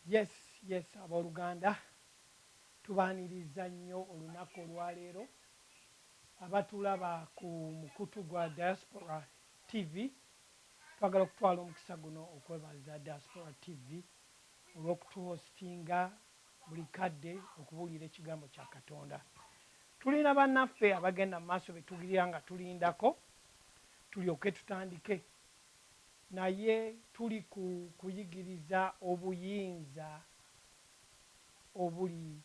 yes yes abooluganda tubaaniriza nnyo olunaku olwaleero abatulaba ku mukutu gwa diaspora tv twagala okutwala omukisa guno okwebaza diaspora tv olw'okutuhostinga buli kadde okubuulira Ekigambo kya Katonda. Tulina bannaffe abagenda mu maaso be tugirira nga tulindako tulyoke tutandike. Naye tuli ku kuyigiriza obuyinza obuli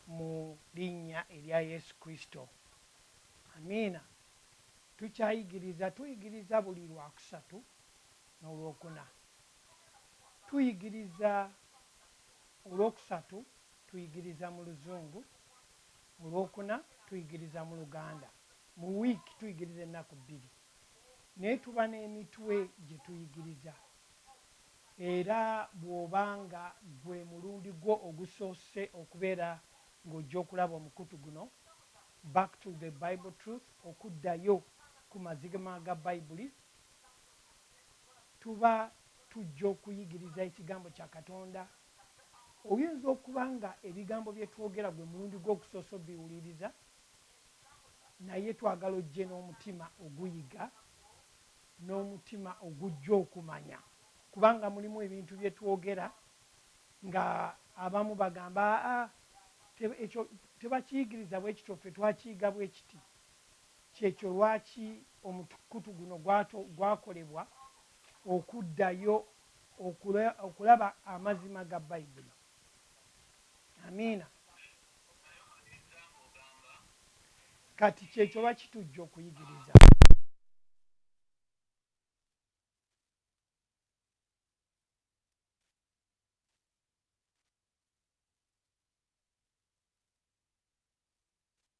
mu Linnya erya Yesu Kristo. Amiina. Tukyayigiriza. Tuyigiriza buli Lwakusatu n'Olwokuna. tuyigiriza olwokusatu tuyigiriza mu luzungu, olwokuna tuyigiriza mu luganda, mu wiiki tuyigiriza ennaku bbiri naye tuba n'emitwe gye tuyigiriza era bw'oba nga gwe mulundi gwo ogusoose okubeera ng'ojja okulaba omukutu guno Back to the Bible Truth, Okuddayo ku Mazigma ga Bayibuli, tuba tujja okuyigiriza Ekigambo kya Katonda, oyinza okuba nga ebigambo bye twogera gwe mulundi gwo ogusoose obiwuliriza, naye twagala ojje n'omutima oguyiga, n'omutima ogujja okumanya, kubanga mulimu ebintu bye twogera nga abamu bagamba, Aa, ekyo tebakiyigiriza bwe kityo, ffe twakiyiga bwe kiti. Ky'ekyo lwaki omukutu guno gwakolebwa, okuddayo okulaba Amazima ga Bayibuli. Amiina. Kati, ky'ekyo lwaki tujja okuyigiriza.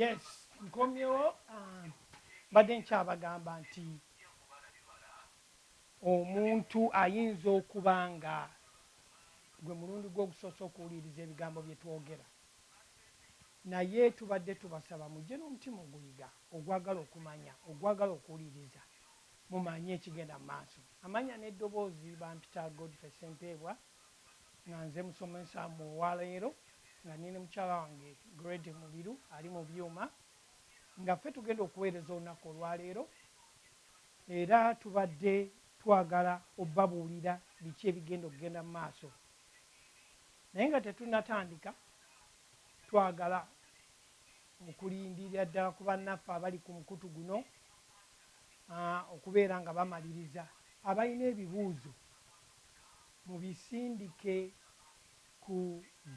yes nkomyewo ah, mbadde nkyabagamba nti omuntu ayinza okuba nga gwe mulundi gwogusoose okuwuliriza ebigambo byetwogera Naye tubadde tubasaba mujje n'omutima oguyiga, ogwagala okumanya, ogwagala okuwuliriza mumanye ekigenda mu maaso. Amannya n'eddoboozi, Bampita Godfrey Ssempeebwa nga nze musomesa mu olwaleero nga ndi ne mukyala wange Grady Mubiru ali mu byuma nga ffe tugenda okuweereza olunaku olwaleero era tubadde twagala obabuulira biki ebigenda okugenda mu maaso. Naye nga tetunnatandika, twagala okulindirira ddala ku bannaffe abali ku mukutu guno okubeera nga bamaliriza. Abalina ebibuuzo mubisindike ku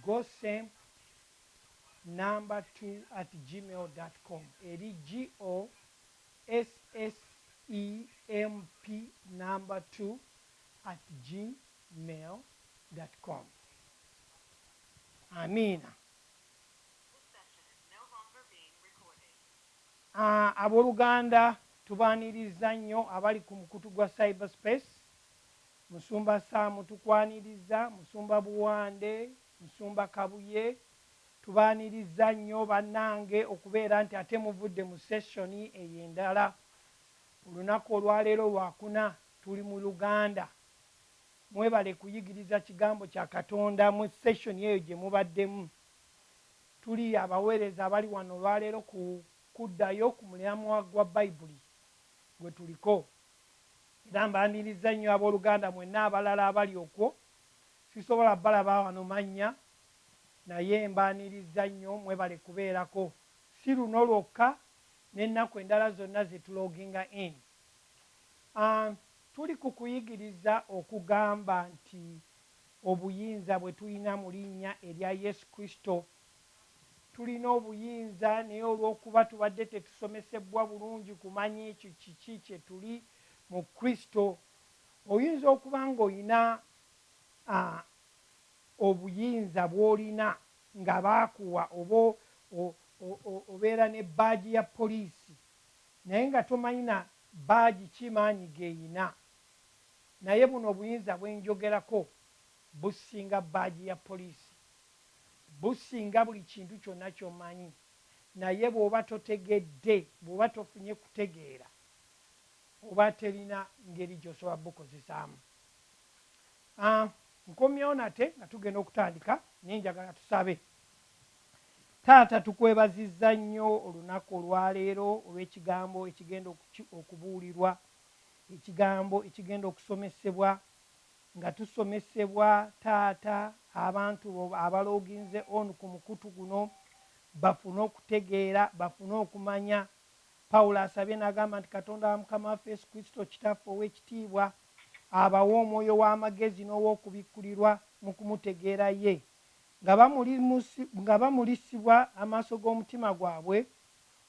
gosemp number two at gmail dot com eri GOSSEMP number two at gmail. gmail dot com amiina. Aboluganda tubaniriza nnyo abali ku mukutu gwa cyber space, musumba Sam tukwaniriza, musumba Buwande, musumba Kabuye tubaniriza nnyo banange okubeera nti ate muvudde mu session eyo endala. Olunaku olwaleero lwakuna tuli mu Luganda Mwebale kuyigiriza kigambo kya Katonda mu session eyo gye mubaddemu. Tuli abaweereza abali wano olwaleero ku kuddayo ku mulamwa gwa Bayibuli gwe tuliko. Era mbaanirizza nnyo ab'oluganda mwenna abalala abali okwo. Sisobola balaba wano mannya, naye mbaanirizza nnyo. Mwebale kubeerako. Si luno lwokka, n'ennaku endala zonna ze tuloginga in. A Tuli ku kuyigiriza okugamba nti obuyinza bwe tulina mu linnya erya Yesu Kristo. Tulina obuyinza, naye olw'okuba tubadde tetusomesebbwa bulungi kumanya ekyo kiki kye tuli mu Kristo. Oyinza okuba nga olina a obuyinza bw'olina nga baakuwa oba o, o, o, obeera ne bbaagi ya poliisi. Naye nga tomanyi na badge ki maanyi geyina. Naye buno obuyinza bwenjogerako businga badge ya police. Businga buli kintu kyonna kyomanyi. Naye bwoba totegedde, bwoba tofunye kutegeera, oba terina ngeri gyosobola bukozesaamu. Aah nkomyewo nate nga tugenda okutandika naye njagala tusabe Taata tukwebazizza nnyo olunaku olwaleero olw'ekigambo ekigenda okubuulirwa, ekigambo ekigenda okusomesebwa nga tusomesebwa Taata abantu bo abaloginze on ku mukutu guno bafune okutegeera, bafune okumanya. Paulo asabye nagamba nti Katonda wa Mukama waffe Yesu Kristo Kitaffe ow'ekitiibwa abawe omwoyo w'amagezi n'ow'okubikkulirwa mu kumutegeera ye Nga bamuli, nga bamulisibwa amaaso g'omutima gwabwe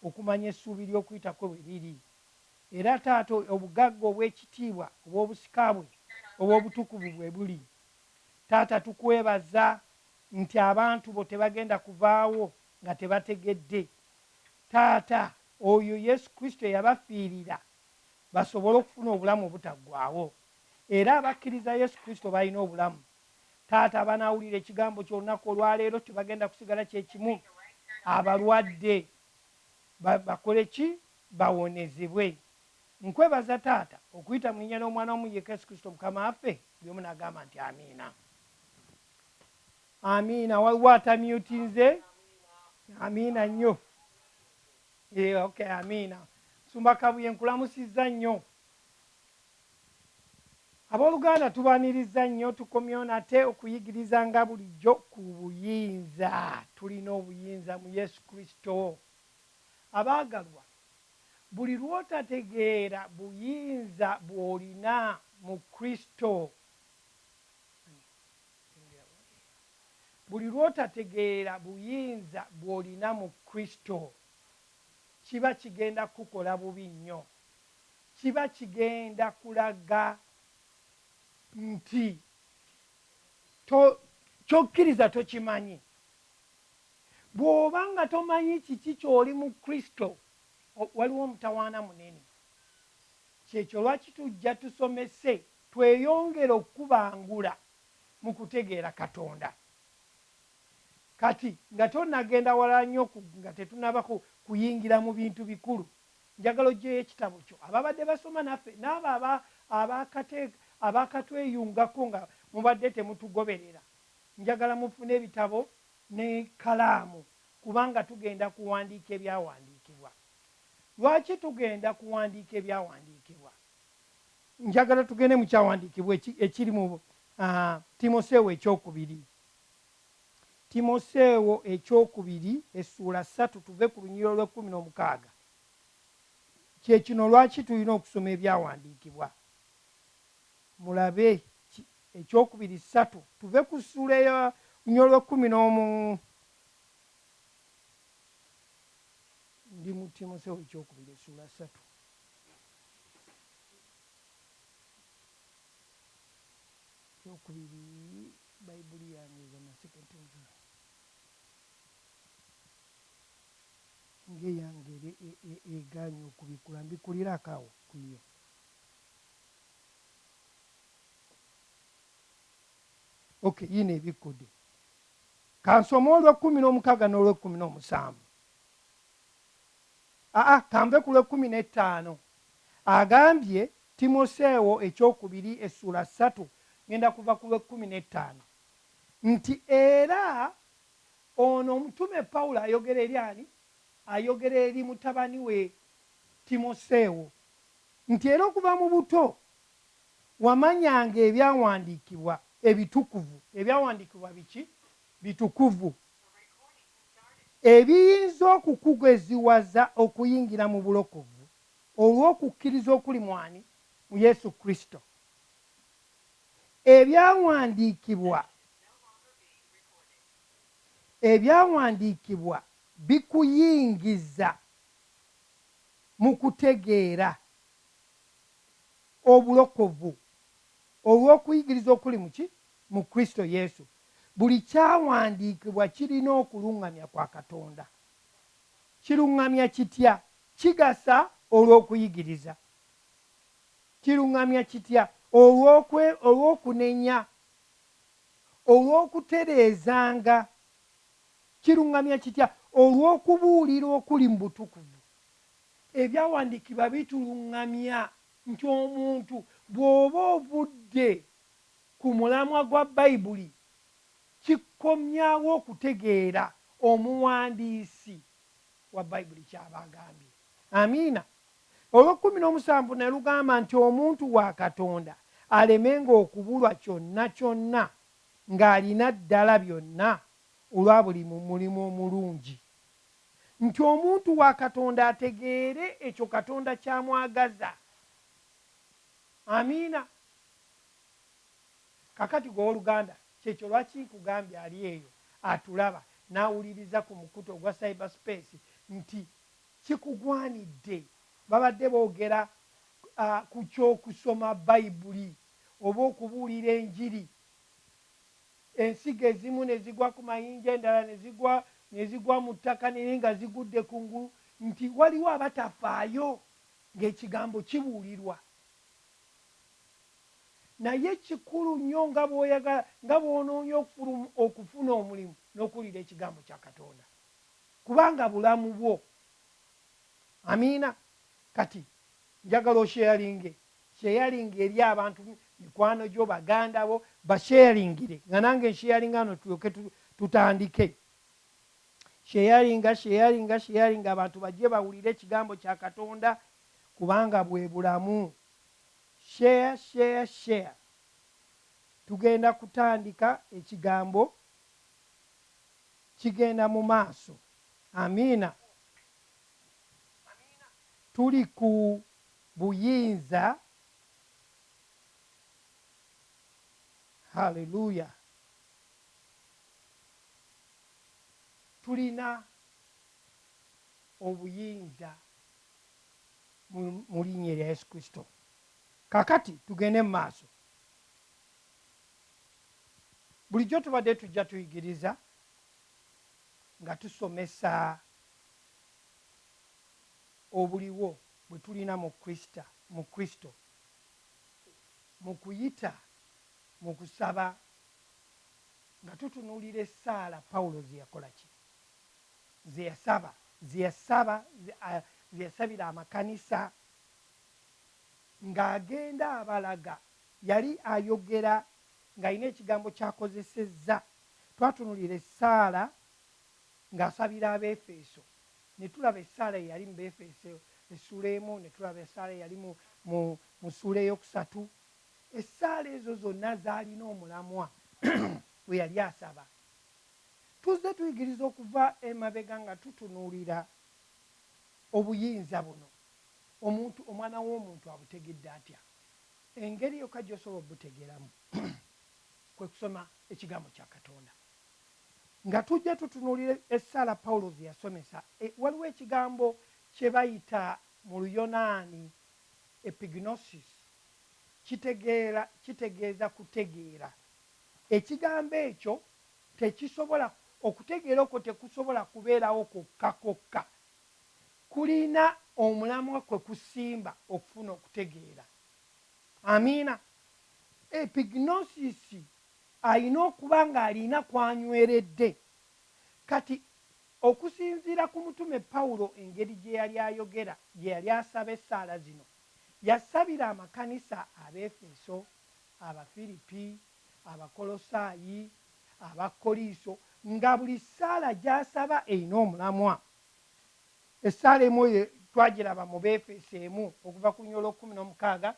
okumanya essuubi ly'okuyita kwe bwe liri. Era Taata obugagga obw'ekitiibwa obw'obusika bwe obw'obutukuvu bwe buli. Taata tukwebaza nti abantu bo tebagenda kuvaawo nga tebategedde, Taata, oyo Yesu Kristo eyabafiirira basobole okufuna obulamu obutaggwaawo. Era abakkiriza Yesu Kristo balina obulamu. Taata abanaawulira ekigambo kyo olunaku olwaleero tebagenda kusigala kye kimu. Abalwadde ba, bakole ki? Bawonezebwe. Nkwebaza, Taata, okuyita mu Linnya ly'Omwana wamu yekka, Yesu Kristo Mukama waffe. Buli omu n'agamba nti, Amiina. Amiina. Waliwo atamyutinze? Amiina nnyo. Yee, okay, amiina. Musumba Kabuye, nkulamusizza nnyo. Aboluganda tubaniriza nnyo tukomyewo nate okuyigiriza nga bulijjo ku buyinza. Tulina obuyinza mu Yesu Kristo. Abaagalwa, buli lw'otategeera buyinza bw'olina mu Kristo, buli lw'otategeera buyinza bw'olina mu Kristo, kiba kigenda kukukola bubi nnyo. kiba kigenda kulaga nti to, kyokkiriza tokimanyi. Bw'oba nga tomanyi kiki ky'oli mu Kristo, waliwo omutawaana munene. Ky'ekyo lwaki tujja tusomese tweyongere okukubangula mu kutegeera Katonda. Kati, nga tonnagenda wala nnyo ku, nga tetunnaba ku, kuyingira mu bintu bikulu, Njagala oggyeyo ekitabo kyo. Ababadde basoma naffe, n'abo aba, abakate, abaakatweyungako nga mubadde temutugoberera, njagala mufune ebitabo n'ekkalaamu, kubanga tugenda kuwandiika Ebyawandiikibwa. Lwaki tugenda kuwandiika Ebyawandiikibwa? Njagala tugende mu Kyawandiikibwa eki, ekiri mu, a, Timoseewo Eky'okubiri. Timoseewo eky'okubiri essuula ssatu tuve ku lunyiriri olw'ekkumi n'omukaaga. Kye kino lwaki tulina okusoma ebyawandiikibwa. Mulabe ki, eky'okubiri ssatu tuve ku ssuula eyo lunyiriri olw'ekkumi n'omu. Ndi mu Timoseewo eky'okubiri essuula ssatu. Eky'okubiri. Baibuli yange eza naseketezo ng'eyange era e, e, e, egaanye okubikula. Mbikulirako awo ku yo. ok yino ebikkude kansoma olwekumi n'omukaaga n'olwekumi n'omusanvu aa kanve ku lwekumi n'ettaano agambye Timoseewo eky'okubiri essuula ssatu ngenda kuva ku lw'ekkumi n'ettaano nti era ono omutume Pawulo ayogera eri ani? Ayogera eri mutabani we Timoseewo nti era okuva mu buto wamanyanga ebyawandiikibwa ebitukuvu, ebyawandiikibwa biki? Bitukuvu, ebiyinza okukugeziwaza okuyingira mu bulokovu. Olw'okukkiriza okuli mu ani? Mu Yesu Kristo. Ebyawandiikibwa, Ebyawandiikibwa bikuyingiza mu kutegeera obulokovu olw'okuyigiriza okuli mu ki? Mu Kristo Yesu. Buli kyawandiikibwa kirina okuluŋŋamya kwa Katonda. Kiruŋŋamya kitya? Kigasa olw'okuyigiriza. Kiruŋŋamya kitya olw'okwe, olw'okunenya, olw'okutereezanga. Kiruŋŋamya kitya olw'okubuulira okuli mu butukuvu. Ebyawandiikibwa bituluŋŋamya nti omuntu bw'oba ovudde ku mulamwa gwa Bayibuli, kikomyawo okutegeera omuwandiisi. wa Baibuli ky'aba agambye. Amiina. Olw'ekkumi n'omusanvu ne lugamba nti, Omuntu wa Katonda alemenga okubulwa kyonna kyonna, nga alina ddala byonna olwa buli mu mulimu omulungi. Nti omuntu wa Katonda ategeere ekyo Katonda ky'amwagaza. Amiina. Kakati gwe owoluganda, kyekyo lwaki nkugambye ali eyo atulaba n'awuliriza ku mukutu ogwa Cyber Space nti kikugwanidde. Babadde bogera ku ky'okusoma Bayibuli oba okubuulira enjiri, ensigo ezimu ne zigwa ku mayinja endala ne zigwa ne zigwa mu ttaka naye nga zigudde ku ngulu nti waliwo abatafaayo ng'ekigambo kibuulirwa. Naye kikulu nnyo nga bw'oyagala, nga bw'onoonya okufulum, okufuna omulimu, n'okuwulira Ekigambo kya Katonda, kubanga bulamu bwo. Amiina. Kati, njagala osheyalinge, sheyalinga eri abantu, mikwano gyo, baganda bo, basheyalingire, nga nange nsheyalinga wano, tulyoke tu, tutandike. Sheyalinga, sheyalinga, sheyalinga, abantu bajje bawulire Ekigambo kya Katonda, kubanga bwe Bulamu. Share share share tugenda kutandika ekigambo kigenda mu maaso amiina tuli ku buyinza hallelujah tulina obuyinza. mu, mu Linnya erya Yesu Kristo. Kaakati tugende mu maaso. Bulijjo tubadde tujja tuyigiriza nga tusomesa obuliwo bwe tulina mu Kristo, mu Kristo, mu kuyita mu kusaba, nga tutunuulira essaala Pawulo ze yakola. Ki, ze yasaba, ze yasaba, ze yasabira amakanisa ng'agenda abalaga. Yali ayogera ng'alina ekigambo ky'akozesezza. Twatunuulira essaala ng'asabira Abeefeeso, ne tulaba essaala eyali mu Beefeeso essuula emu, ne tulaba essaala eyali mu, mu, mu ssuula ey'okusatu. Essaala ezo zonna zaalina omulamwa gwe yali asaba. Tuzze tuyigiriza okuva emabega nga tutunuulira obuyinza buno. Omuntu, omwana w'omuntu abutegedde atya? Engeri yokka gy'osobola obutegeeramu kwe kusoma ekigambo kya Katonda. Nga tujja tutunuulira essaala Pawulo ze yasomesa, waliwo ekigambo kye bayita mu Luyonaani epignosis, kitegeera, kitegeeza kutegeera. Ekigambo ekyo Tekisobola, okutegeera okwo tekusobola kubeerawo kwokka kwokka. Kulina omulamwa kwe kusimba okufuna okutegeera. Amiina. Epignosis alina okuba nga alina kw'anyweredde. Kati, okusinziira ku mutume Pawulo engeri gye yali ayogera, gye yali asaba essaala zino, yasabira amakanisa Abeefeso, Abafiripi, Abakolosaayi, Abakoliiso, nga buli ssaala gy'asaba erina omulamwa. Essaala emu eyo twagiraba mu Beefeso emu, okuva ku luny. Olw'okumi n'omukaaga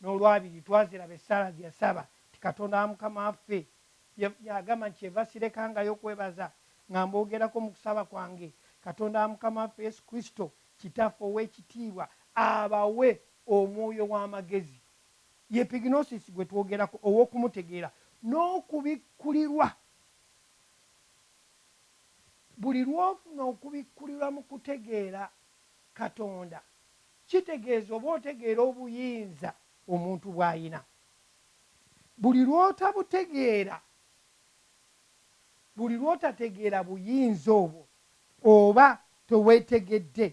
n'olwabiri, twaziraba essaala ze yasaba nti, Katonda wa Mukama waffe, y'agamba nti, Kyeva sirekangayo kwebaza nga mboogerako mu kusaba kwange, Katonda wa Mukama waffe Yesu Kristo, Kitaffe ow'ekitiibwa, abawe omwoyo w'amagezi. Ye Epignosis gwe twogerako, ow'okumutegeera n'okubikkulirwa. Buli lw'ofuna okubikkulirwa mu kutegeera Katonda, kitegeeza oba otegeera obuyinza omuntu bw'alina. Buli lw'otabutegeera, buli lw'otategeera buyinza obwo, oba tewetegedde.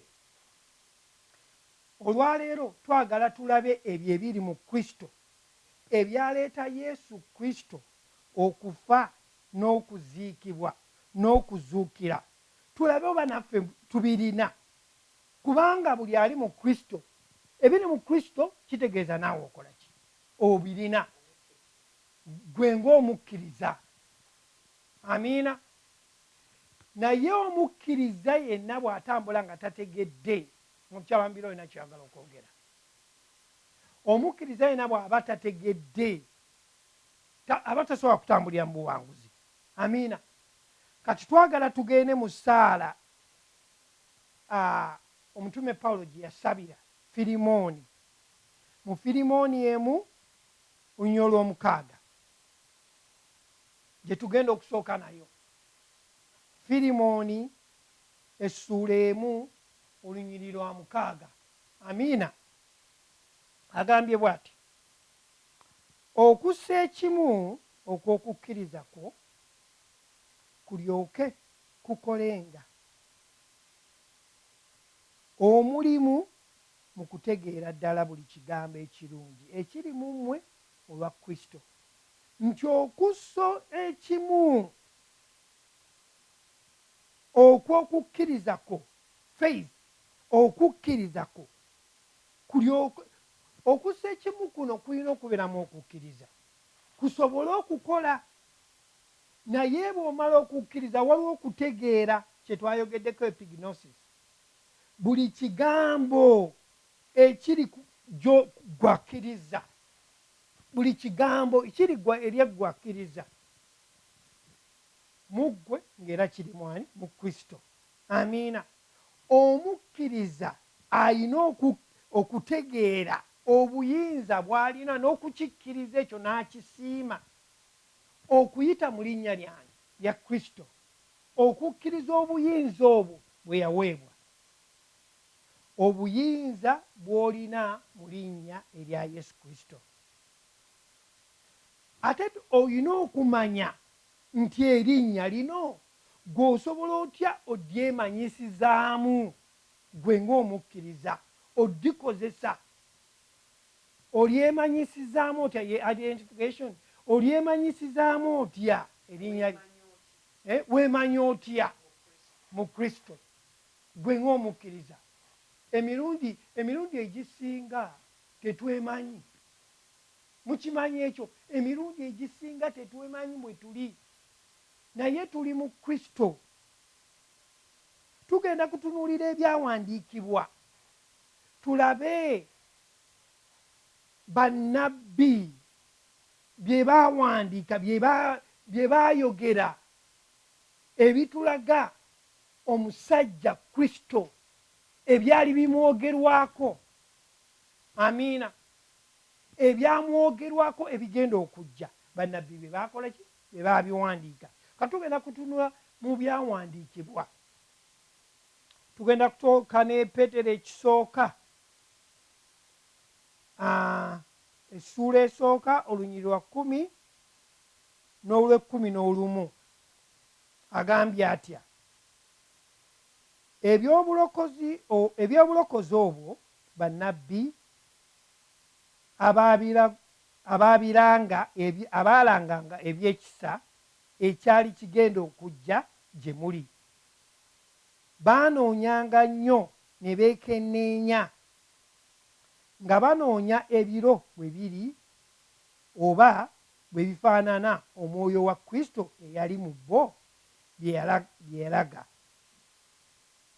Olwaleero twagala tulabe ebyo ebiri mu Kristo ebyaleeta Yesu Kristo okufa n'okuziikibwa n'okuzuukira, tulabe oba naffe tubirina. Kubanga buli ali mu Kristo, ebiri mu Kristo kitegeeza naawe okola ki? Obirina, ggwe ng'omukkiriza. Amiina. Naye omukkirizza yenna bw'atambula nga tategedde, mukyala Mbira olina ky'oyagala okwogera? Omukkirizza yenna bw'aba tategedde, ta, aba tasobola kutambulira mu buwanguzi. Amiina. Kati twagala tugende mu ssaala a, omutume Pawulo gye yasabira Firimooni, mu Firimooni emu, olunyiriro lw'omukaaga. gye tugenda okusooka nayo. Firimoni essuula emu olunyiriri lwa mukaaga. Amiina. Agambye bw'ati, Okussa ekimu okw'okukkiriza kwo kulyoke kukolenga omulimu mu kutegeera ddala buli Kigambo ekirungi ekiri mu mmwe olwa Kristo. nti okusso ekimu okw'okukkiriza kwo, faith, okukkiriza kwo, kulyoke, okussa ekimu kuno kulina okuberamu okukkiriza kusobole okukola. Naye bw'omala okukkiriza waliwo okutegeera kye twayogeddeko epignosis. Buli kigambo ekiri ku, gyo, ggwe akkiriza. Buli Kigambo kirigwa eri eggwe akkiriza mu Ggwe, nga era kiri mu ani? Mu Kristo. Amiina. Omukkiriza alina oku, okutegeera obuyinza bw'alina n'okukikkiriza ekyo n'akisiima, okuyita mu Linnya Lyange, lya Kristo, okukkiriza obuyinza obwo bwe yaweebwa. obuyinza bw'olina mu linnya erya Yesu Kristo. Ate olina okumanya nti erinnya lino ggwe osobola otya odyemanyisizaamu ggwe ng'omukkiriza? Oddikozesa, olyemanyisizaamu otya? Ye identification, olyemanyisizaamu otya erinnya? Weemanyi otya mu Kristo? Ggwe ng'omukkiriza, emirundi, emirundi egisinga tetwemanyi. Mukimanyi ekyo? Emirundi egisinga tetwemanyi mwe tuli. Naye tuli mu Kristo. Tugenda kutunuulira Ebyawandiikibwa, tulabe bannabbi bye baawandiika, bye, bye baayogera, ebitulaga Omusajja Kristo ebyali bimwogerwako, amiina, ebyamwogerwako ebigenda okujja, bannabbi be baakola ki? Be baabiwandiika. Ka tugenda kutunula mu byawandiikibwa. Tugenda kutoka ne Petero ekisooka, essuula esooka, olunyiri lwa kkumi n'olwekkumi n'olumu. Agambye atya eby'obulokozi o, eby'obulokozi obwo bannabbi abaabira, abaabiranga, ebye, abaalanganga eby'ekisa ekyali kigenda okujja gye muli? Baanoonyanga nnyo ne beekenneenya, nga banoonya ebiro bwe biri oba bwe bifaanana omwoyo wa Kristo eyali mu bo bye yalaga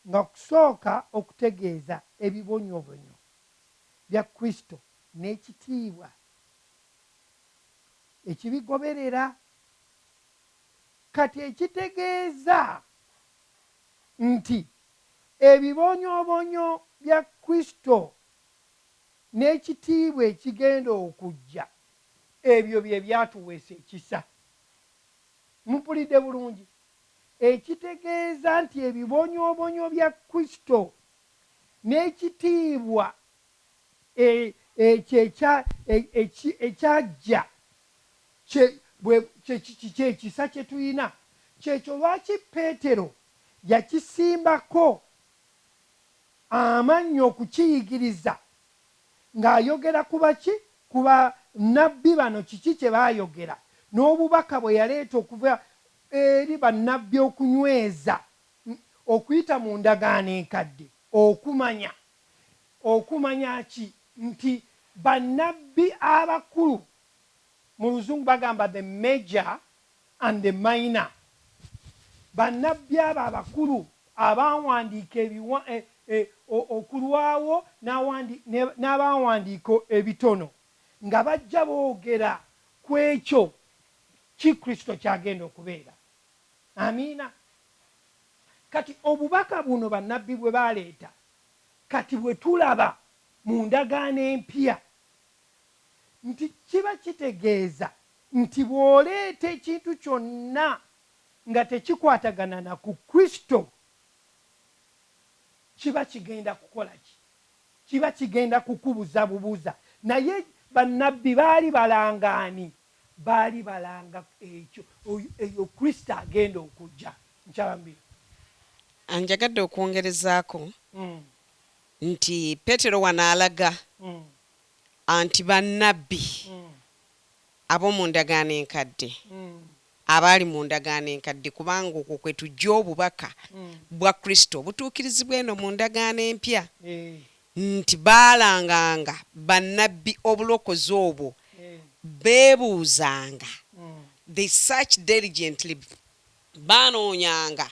nga kusooka okutegeeza ebibonyobonyo bya Kristo n'ekitiibwa ekibigoberera. Kati ekitegeeza nti ebibonyobonyo bya Kristo n'ekitiibwa ekigenda okujja Ebyo bye byatuweesa ekisa. Mumpulidde bulungi? Ekitegeeza nti ebibonyoobonyo bya Kristo n'ekitiibwa e, ekyo ekya, e, eki, ekyajja kye, bwe, kye, kye, kye kisa kye tulina. Ky'ekyo lwaki Peetero yakisimbako amannyo okukiyigiriza nga ayogera ku baki? Ku ba Nabbi bano kiki kye baayogera n'obubaka bwe yaleeta okuva eri ba Nabbi okunyweza okuyita mu ndagaano enkadde okumanya. Okumanya ki? Nti ba Nabbi abakulu, mu luzungu bagamba the major and the minor bannabbi abo abakulu abaawandiika ebiwa, e, e, o, okulwawo n'awandi, ne, n'abaawandiika ebitono, nga bajja boogera ku ekyo ki Kristo ky'agenda okubeera. Amiina. Kati Obubaka buno bannabbi bwe baaleeta, kati bwe tulaba mu Ndagaano Empya, nti kiba kitegeeza nti bw'oleeta ekintu kyonna nga tekikwatagana na ku Kristo, kiba kigenda kukola ki? Kiba kigenda kukubuza bubuza. Naye bannabbi baali balanga ani? Baali balanga ekyo, eyo Kristo agenda okujja. Nkyambira. Njagadde okwongerezaako nti Petero wano alaga anti bannabbi Ab'omu Ndagaano Enkadde, Abaali mu Ndagaano Enkadde, kubanga okwo kwe tujja Obubaka bwa Kristo obutuukirizibwa eno mu Ndagaano Empya, nti baalanganga bannabbi obulokozi obwo, beebuuzanga, they searched diligently, baanoonyanga,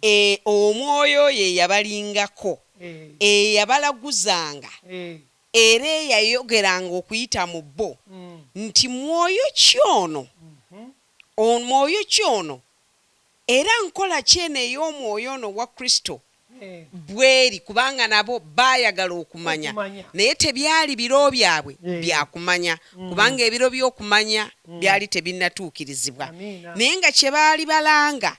e, Omwoyo oyo eyabalingako, eyabalaguzanga, Era eyayogeranga okuyita mu bo nti, Mwoyo ki ono, on, mwoyo ki ono, era nkola ki eno ey'Omwoyo ono owa Kristo? Bw'eri, kubanga nabo baayagala okumanya, naye tebyali biro byabwe bya kumanya, kubanga ebiro by'okumanya byali tebinnatuukirizibwa, naye nga kye baali balanga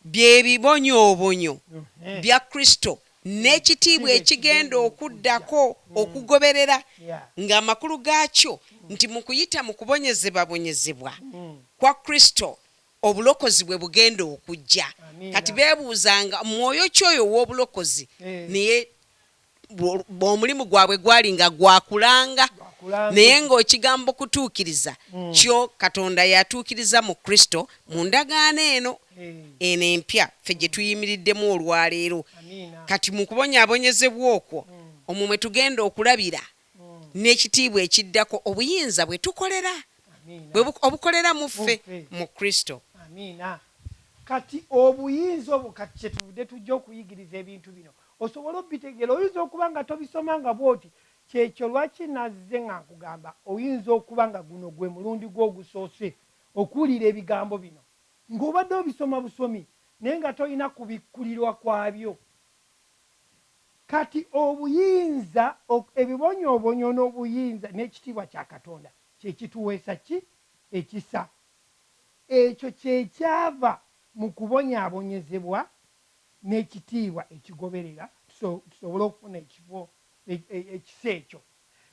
bye bibonyoobonyo bya Kristo. n'ekitiibwa ekigenda okuddako okugoberera ng'amakulu gaakyo nti mu kuyita mu kubonyezebabonyezebwa kwa Kristo obulokozi bwe bugenda okujja. Kati beebuuza nga mwoyo ki oyo ow'obulokozi, naye omulimu gwabwe gwali nga gwa kulanga, naye ng'okigambo kutuukiriza kyo Katonda yatuukiriza mu Kristo mu ndagaano eno. eno empya ffe gye tuyimiriddemu olwaleero. Kati mu kubonyaabonyezebwa okwo omwo mwe tugenda okulabira n'ekitiibwa ekiddako obuyinza bwe tukolera bwe bu, obukolera mu ffe, mu Kristo. Amiina. Kati obuyinza obwo, kati kye tuvudde tujja okuyigiriza ebintu bino osobole obitegeera. Oyinza okuba nga tobisomanga bw'oti. Ky'ekyo lwaki nnazze nga nkugamba, oyinza okuba nga guno gwe mulundi gwo ogusoose okuwulira ebigambo bino. Ng'obadde obisoma busomi naye nga tolina kubikkulirwa kwabyo. Kati obuyinza, ebibonyoobonyo n'obuyinza n'ekitiibwa kya Katonda kye kituweesa ki? Ekisa. Ekyo kye kyava mu kubonyaabonyezebwa n'ekitiibwa ekigoberera tusobole okufuna ekifo, ekisa ekyo.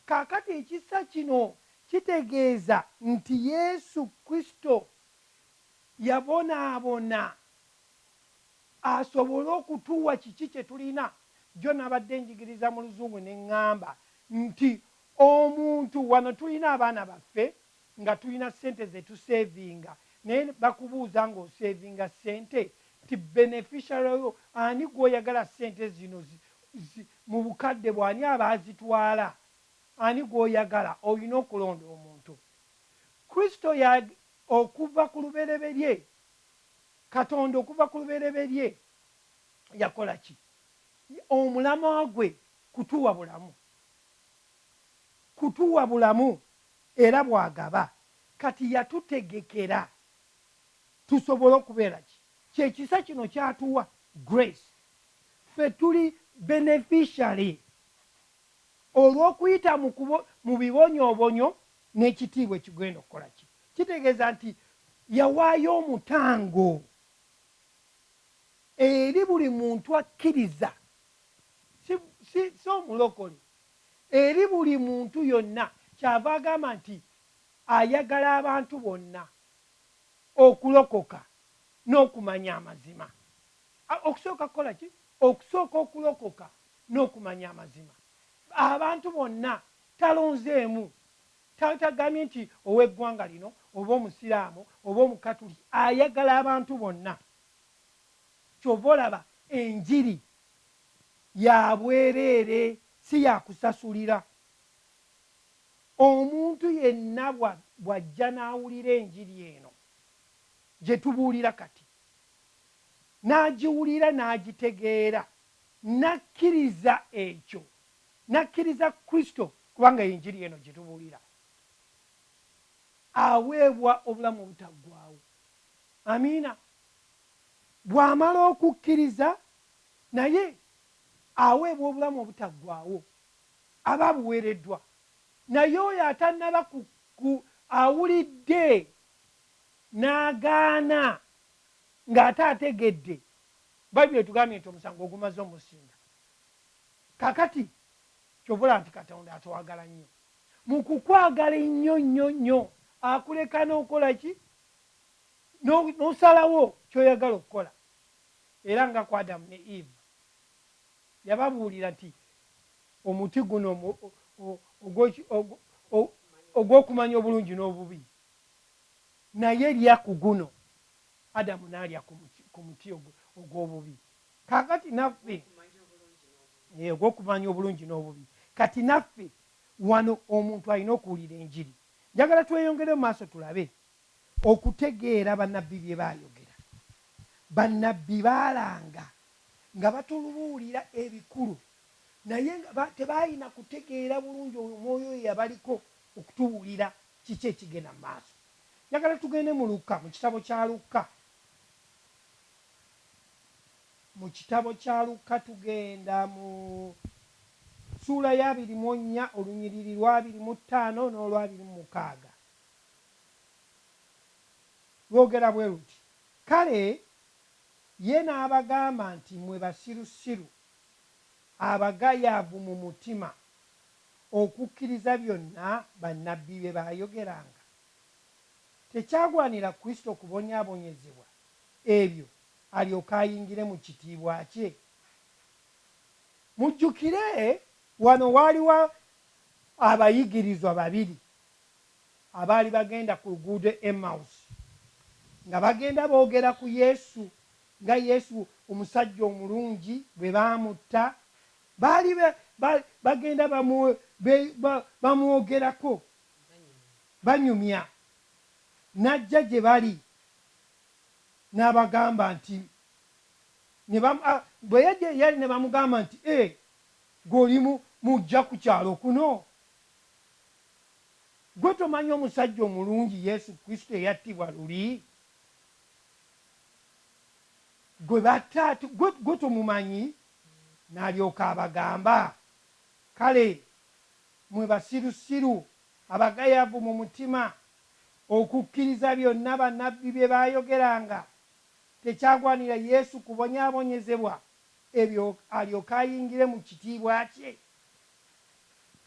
Kaakati ekisa kino kitegeeza nti Yesu Kristo Yabonaabona asobole okutuwa kiki kye tulina. Jjo nabadde njigiriza mu Luzungu ne ŋŋamba nti, Omuntu, wano tulina abaana baffe nga tulina ssente ze tuseevinga, naye bakubuuza ng'oseevinga ssente nti beneficiary yo ani gw'oyagala ssente zino zi, zi, mu bukadde bwo ani aba azitwala? Ani gw'oyagala? Olina okulonda omuntu. Kristo ya, Okuva ku lubereberye, Katonda okuva ku lubereberye yakola ki? Omulamwa gwe kutuwa bulamu. Kutuwa bulamu era bw'agaba. Kati yatutegekera tusobole okubeera ki? Kye kisa kino ky'atuwa, grace. Ffe tuli beneficiary. Olw'okuyita mu kubo, mu bibonyoobonyo n'ekitiibwa ekigenda okukola ki? Kitegeeza nti Yawaayo omutango eri buli muntu akkiriza, si, si, si omulokole, eri buli muntu yonna. Kyava agamba nti ayagala abantu bonna okulokoka n'okumanya amazima. A, okusooka kukola ki? Okusooka okulokoka. n'okumanya amazima. Abantu bonna talonzeemu, tagambye nti ow'eggwanga lino oba Omusiraamu oba Omukatuliki, ayagala abantu bonna. Ky'ova olaba enjiri ya bwereere, si ya kusasulira. Omuntu yenna bw'ajja n'awulira enjiri eno gye tubuulira kati, n'agiwulira n'agitegeera, Nnakkiriza ekyo. Nnakkiriza Kristo, kubanga y'Enjiri eno gye tubuulira. Aweebwa Obulamu Obutaggwaawo. Amiina. Bw'amala okukkiriza, naye aweebwa Obulamu Obutaggwaawo. Aba abuweereddwa. Naye oyo atannaba ku, ku, awulidde, n'agaana, nga ate ategedde, Bible etugambye nti omusango ogumaze omusinga kakati kyova olaba nti katonda atwagala nnyo mukukwagala ennyo nnyo nnyo akuleka nokolaki nosalawo kyoyagala okukola era nga ku adamu ne eve yababuulira nti omuti guno ogwokumanya obulungi n'obubi naye lya ku guno Adamu n'alya ku muti, ku muti ogw, ogw'obubi. Kaakati naffe. Ogw'okumanya obulungi n'obubi. Yee, ogw'okumanya obulungi n'obubi. Kati naffe, wano, omuntu alina okuwulira Enjiri. Njagala tweyongere mu maaso tulabe, okutegeera bannabbi bye baayogera. Bannabbi baalanga nga batulubuulira ebikulu, naye nga ba, tebaalina kutegeera bulungi oyo Omwoyo oyo eyabaliko okutubuulira kiki ekigenda mu maaso. Njagala tugende mu Lukka, mu kitabo kya Lukka. Mu kitabo kya Lukka, tugenda mu ssuula ya abiri mu nnya, olunyiriri lwa abiri mu ttaano n'olwa abiri mu mukaaga. Lwogera bwe luti, Kale Ye n'abagamba nti, Mmwe basirusiru, abagayaavu mu mutima! okukkiriza byonna bannabbi bye baayogeranga? Tekyagwanira Kristo kubonyaabonyezebwa ebyo alyoke ayingire mu kitiibwa kye? Mujjukire. Wano waaliwo abayigirizwa babiri abaali bagenda ku luguudo Emmausi, nga bagenda boogera ku Yesu, nga Yesu omusajja omulungi bwe baamutta, Baali ba, ba, bagenda bamu, be, ba, bamwogerako, banyumya. N'ajja gye bali, n'abagamba nti, ne ba, a, bwe yajja gye yali ne bamugamba nti, E, ggwe oli mu, muggya ku kyalo kuno? Ggwe tomanyi omusajja omulungi Yesu Kristo eyattibwa luli? Gwe batta, ggwe, ggwe tomumanyi? N'alyoka abagamba, Kale, mmwe basirusiru, abagayavu mu mutima, okukkiriza byonna bannabbi bye baayogeranga, tekyagwanira Yesu kubonyaabonyezebwa ebyo alyoke ayingire mu kitiibwa kye?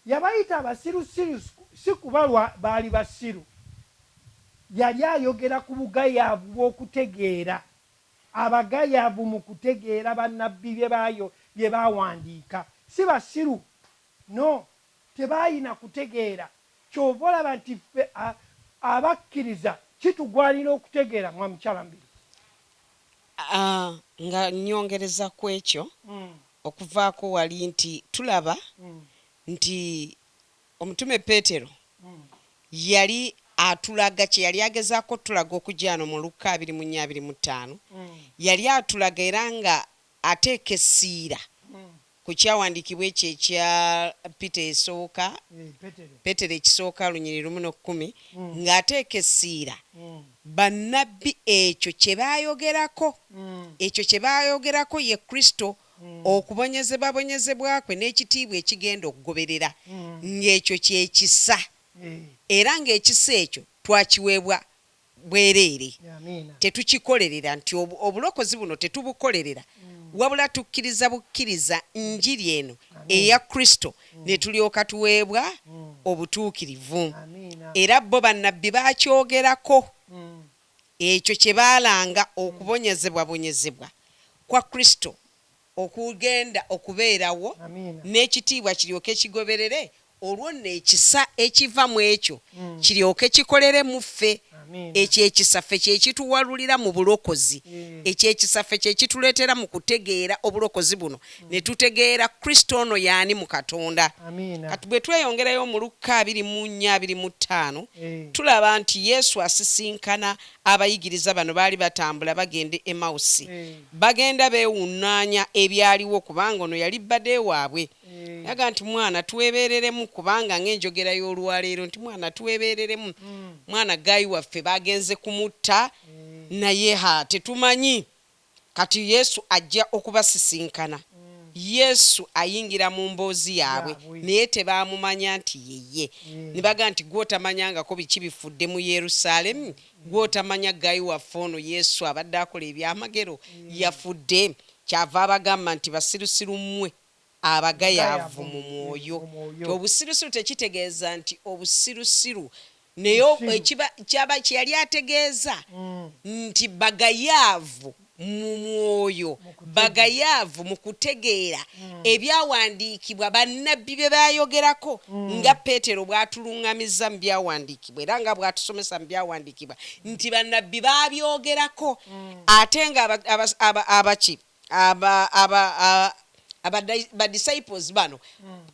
Yabayita basirusiru si kuba lwa baali basiru, yali ayogera ku bugayaavu bw'okutegeera. Abagayavu mu kutegeera bannabbi bye bayo bye baawandiika. Si basiru. No. Tebaalina kutegeera. Ky'ova olaba nti ffe a, abakkiriza kitugwanira okutegeera. Mwa Mukyala Mbiri. A, nga nnyongereza ku ekyo, okuvaako wali, nti tulaba nti Omutume Peetero yali atulaga kye yali agezaako otulaga okugyano mu Lukka abiri mu nnya abiri mu ttaano. Yali atulaga era nga ateeka essiira ku kyawandiikibwa ekyo ekya Peter esooka, Peetero ekisooka, olunyiri lumu no kkumi, nga ateeka essiira bannabbi ekyo kye baayogerako, ekyo kye baayogerako ye Kristo okubonyezebwabonyezebwa kwe n'ekitiibwa ekigenda okugoberera, ng'ekyo kye kisa, era ng'ekisa ekyo twakiweebwa bwereere. Tetukikolerera, nti obulokozi buno tetubukolerera, wabula tukkiriza bukkiriza Njiri eno eya Kristo ne tulyoka tuweebwa obutuukirivu. Era bo bannabbi baakyogerako. Ekyo kye baalanga okubonyezebwabonyezebwa kwa Kristo okugenda okubeerawo, n'ekitiibwa kiryoke kigoberere, olwo nno ekisa ekiva mu ekyo kiryoke kikolere mu ffe. Ekyo ekisa ffe kye kituwalulira mu bulokozi. Ekyo ekisa ffe kye kituleetera mu kutegeera obulokozi buno ne tutegeera Kristo ono y'ani mu Katonda. Kati bwe tweyongerayo mu Lukka abiri mu nnya abiri mu ttaano eh. tulaba nti Yesu asisinkana abayigiriza bano baali batambula bagenda e Emausi. Eh. Bagenda beewunnaanya ebyaliwo kubanga ono yali bbade waabwe. Eh. Yaga nti mwana twebeereremu kubanga ng'enjogera y'olwaleero nti mwana twebeereremu. Hmm. Mwana gaayi waffe baagenze kumutta naye ha tetumanyi. Kati Yesu ajja okubasisinkana. Yesu ayingira mu mboozi yaabwe, naye tebaamumanya nti ye Ye. Ne bagamba nti, Ggwe otamanyangako biki bifudde mu Yerusaalemi? Ggwe otamanya ggayi waffe ono Yesu abadde akola ebyamagero? Yafudde? Ky'ava abagamba nti, Basirusiru mmwe! abagayaavu mu mwoyo. Obusirusiru tekitegeeza nti obusirusiru, naye ekiba, kyaba, kye yali ategeeza nti bagayaavu mu mwoyo, bagayaavu mu kutegeera Ebyawandiikibwa, bannabbi bye baayogerako, nga Peetero bw'atuluŋŋamizza mu Byawandiikibwa era nga bw'atusomesa mu Byawandiikibwa nti bannabbi baabyogerako, ate nga aba, aba, aba, aba ki? Aba, aba, a- abadai- ba disciples bano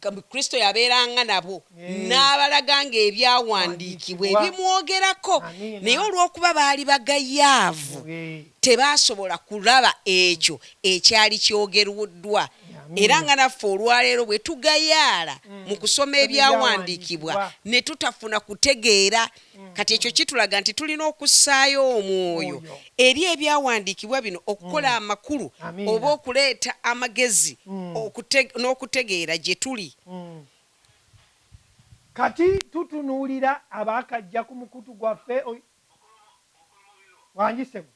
ka- kristo yabeeranga nabo Eh. n'abalaga ng'ebyawandiikibwa Wandiikibwa. ebimwogerako Amiina. naye olw'okuba baali bagayaavu Eh, tebaasobola kulaba ekyo ekyali kyogerwddwa Amiina. era nga naffe olwaleero bwe tugayaala mu kusoma ebyawandiikibwa Ebyawandiikibwa. ne tutafuna kutegeera Kati ekyo kitulaga nti tulina okussaayo omwoyo eri ebyawandiikibwa bino okukola mm. amakulu oba okuleeta amagezi mm. n'okutegeera gye tuli. Mm. Kati tutunuulira abaakajja ku mukutu gwaffe wangisemu.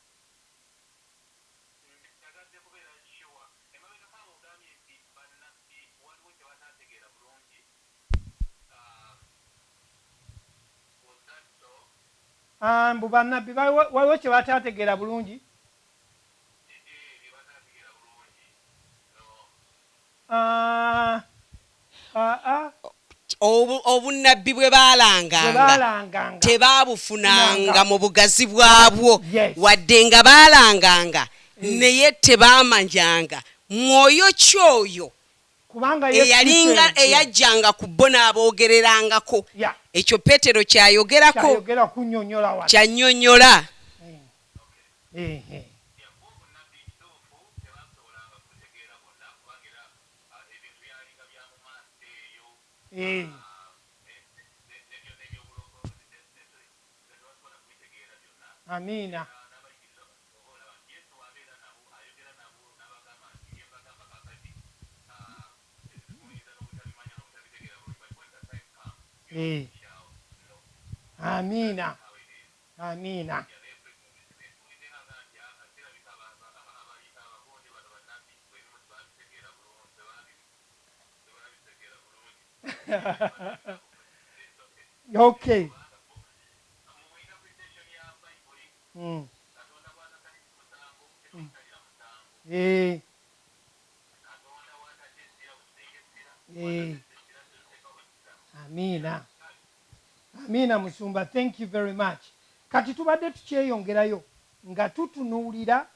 Aah mbu banabbi waliwo kyebataategeera bulungi. Obunnabbi bwe baalanganga tebaabufunanga mu bugazi bwabwo, wadde nga baalanganga, naye tebaamanyanga mwoyo ki oyo eyalinga eyajjanga ku bo n'aboogererangako. Ekyo Peetero ky'ayogerako, ky'annyonnyola. Eh. Amiina. Amiina. okay. Amiina Amiina musumba thank you very much kati tubadde tukyeyongerayo nga tutunuulira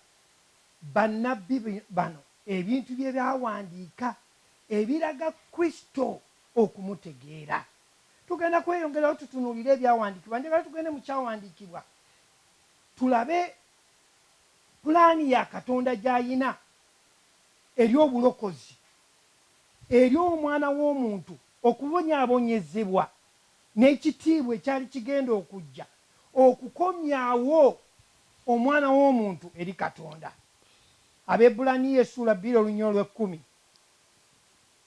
bannabbi bano ebintu bye baawandiika ebiraga Kristo okumutegeera. Tugenda kweyongerayo tutunuulire Ebyawandiikibwa. Njagala tugende mu Kyawandiikibwa tulabe pulaani ya Katonda gy'alina eri obulokozi, eri Omwana w'omuntu, okubonyaabonyezebwa, n'ekitiibwa ekyali kigenda okujja okukomyawo Omwana w'omuntu eri Katonda. Abebbulaniya essuula bbiri oluny olw'ekkumi.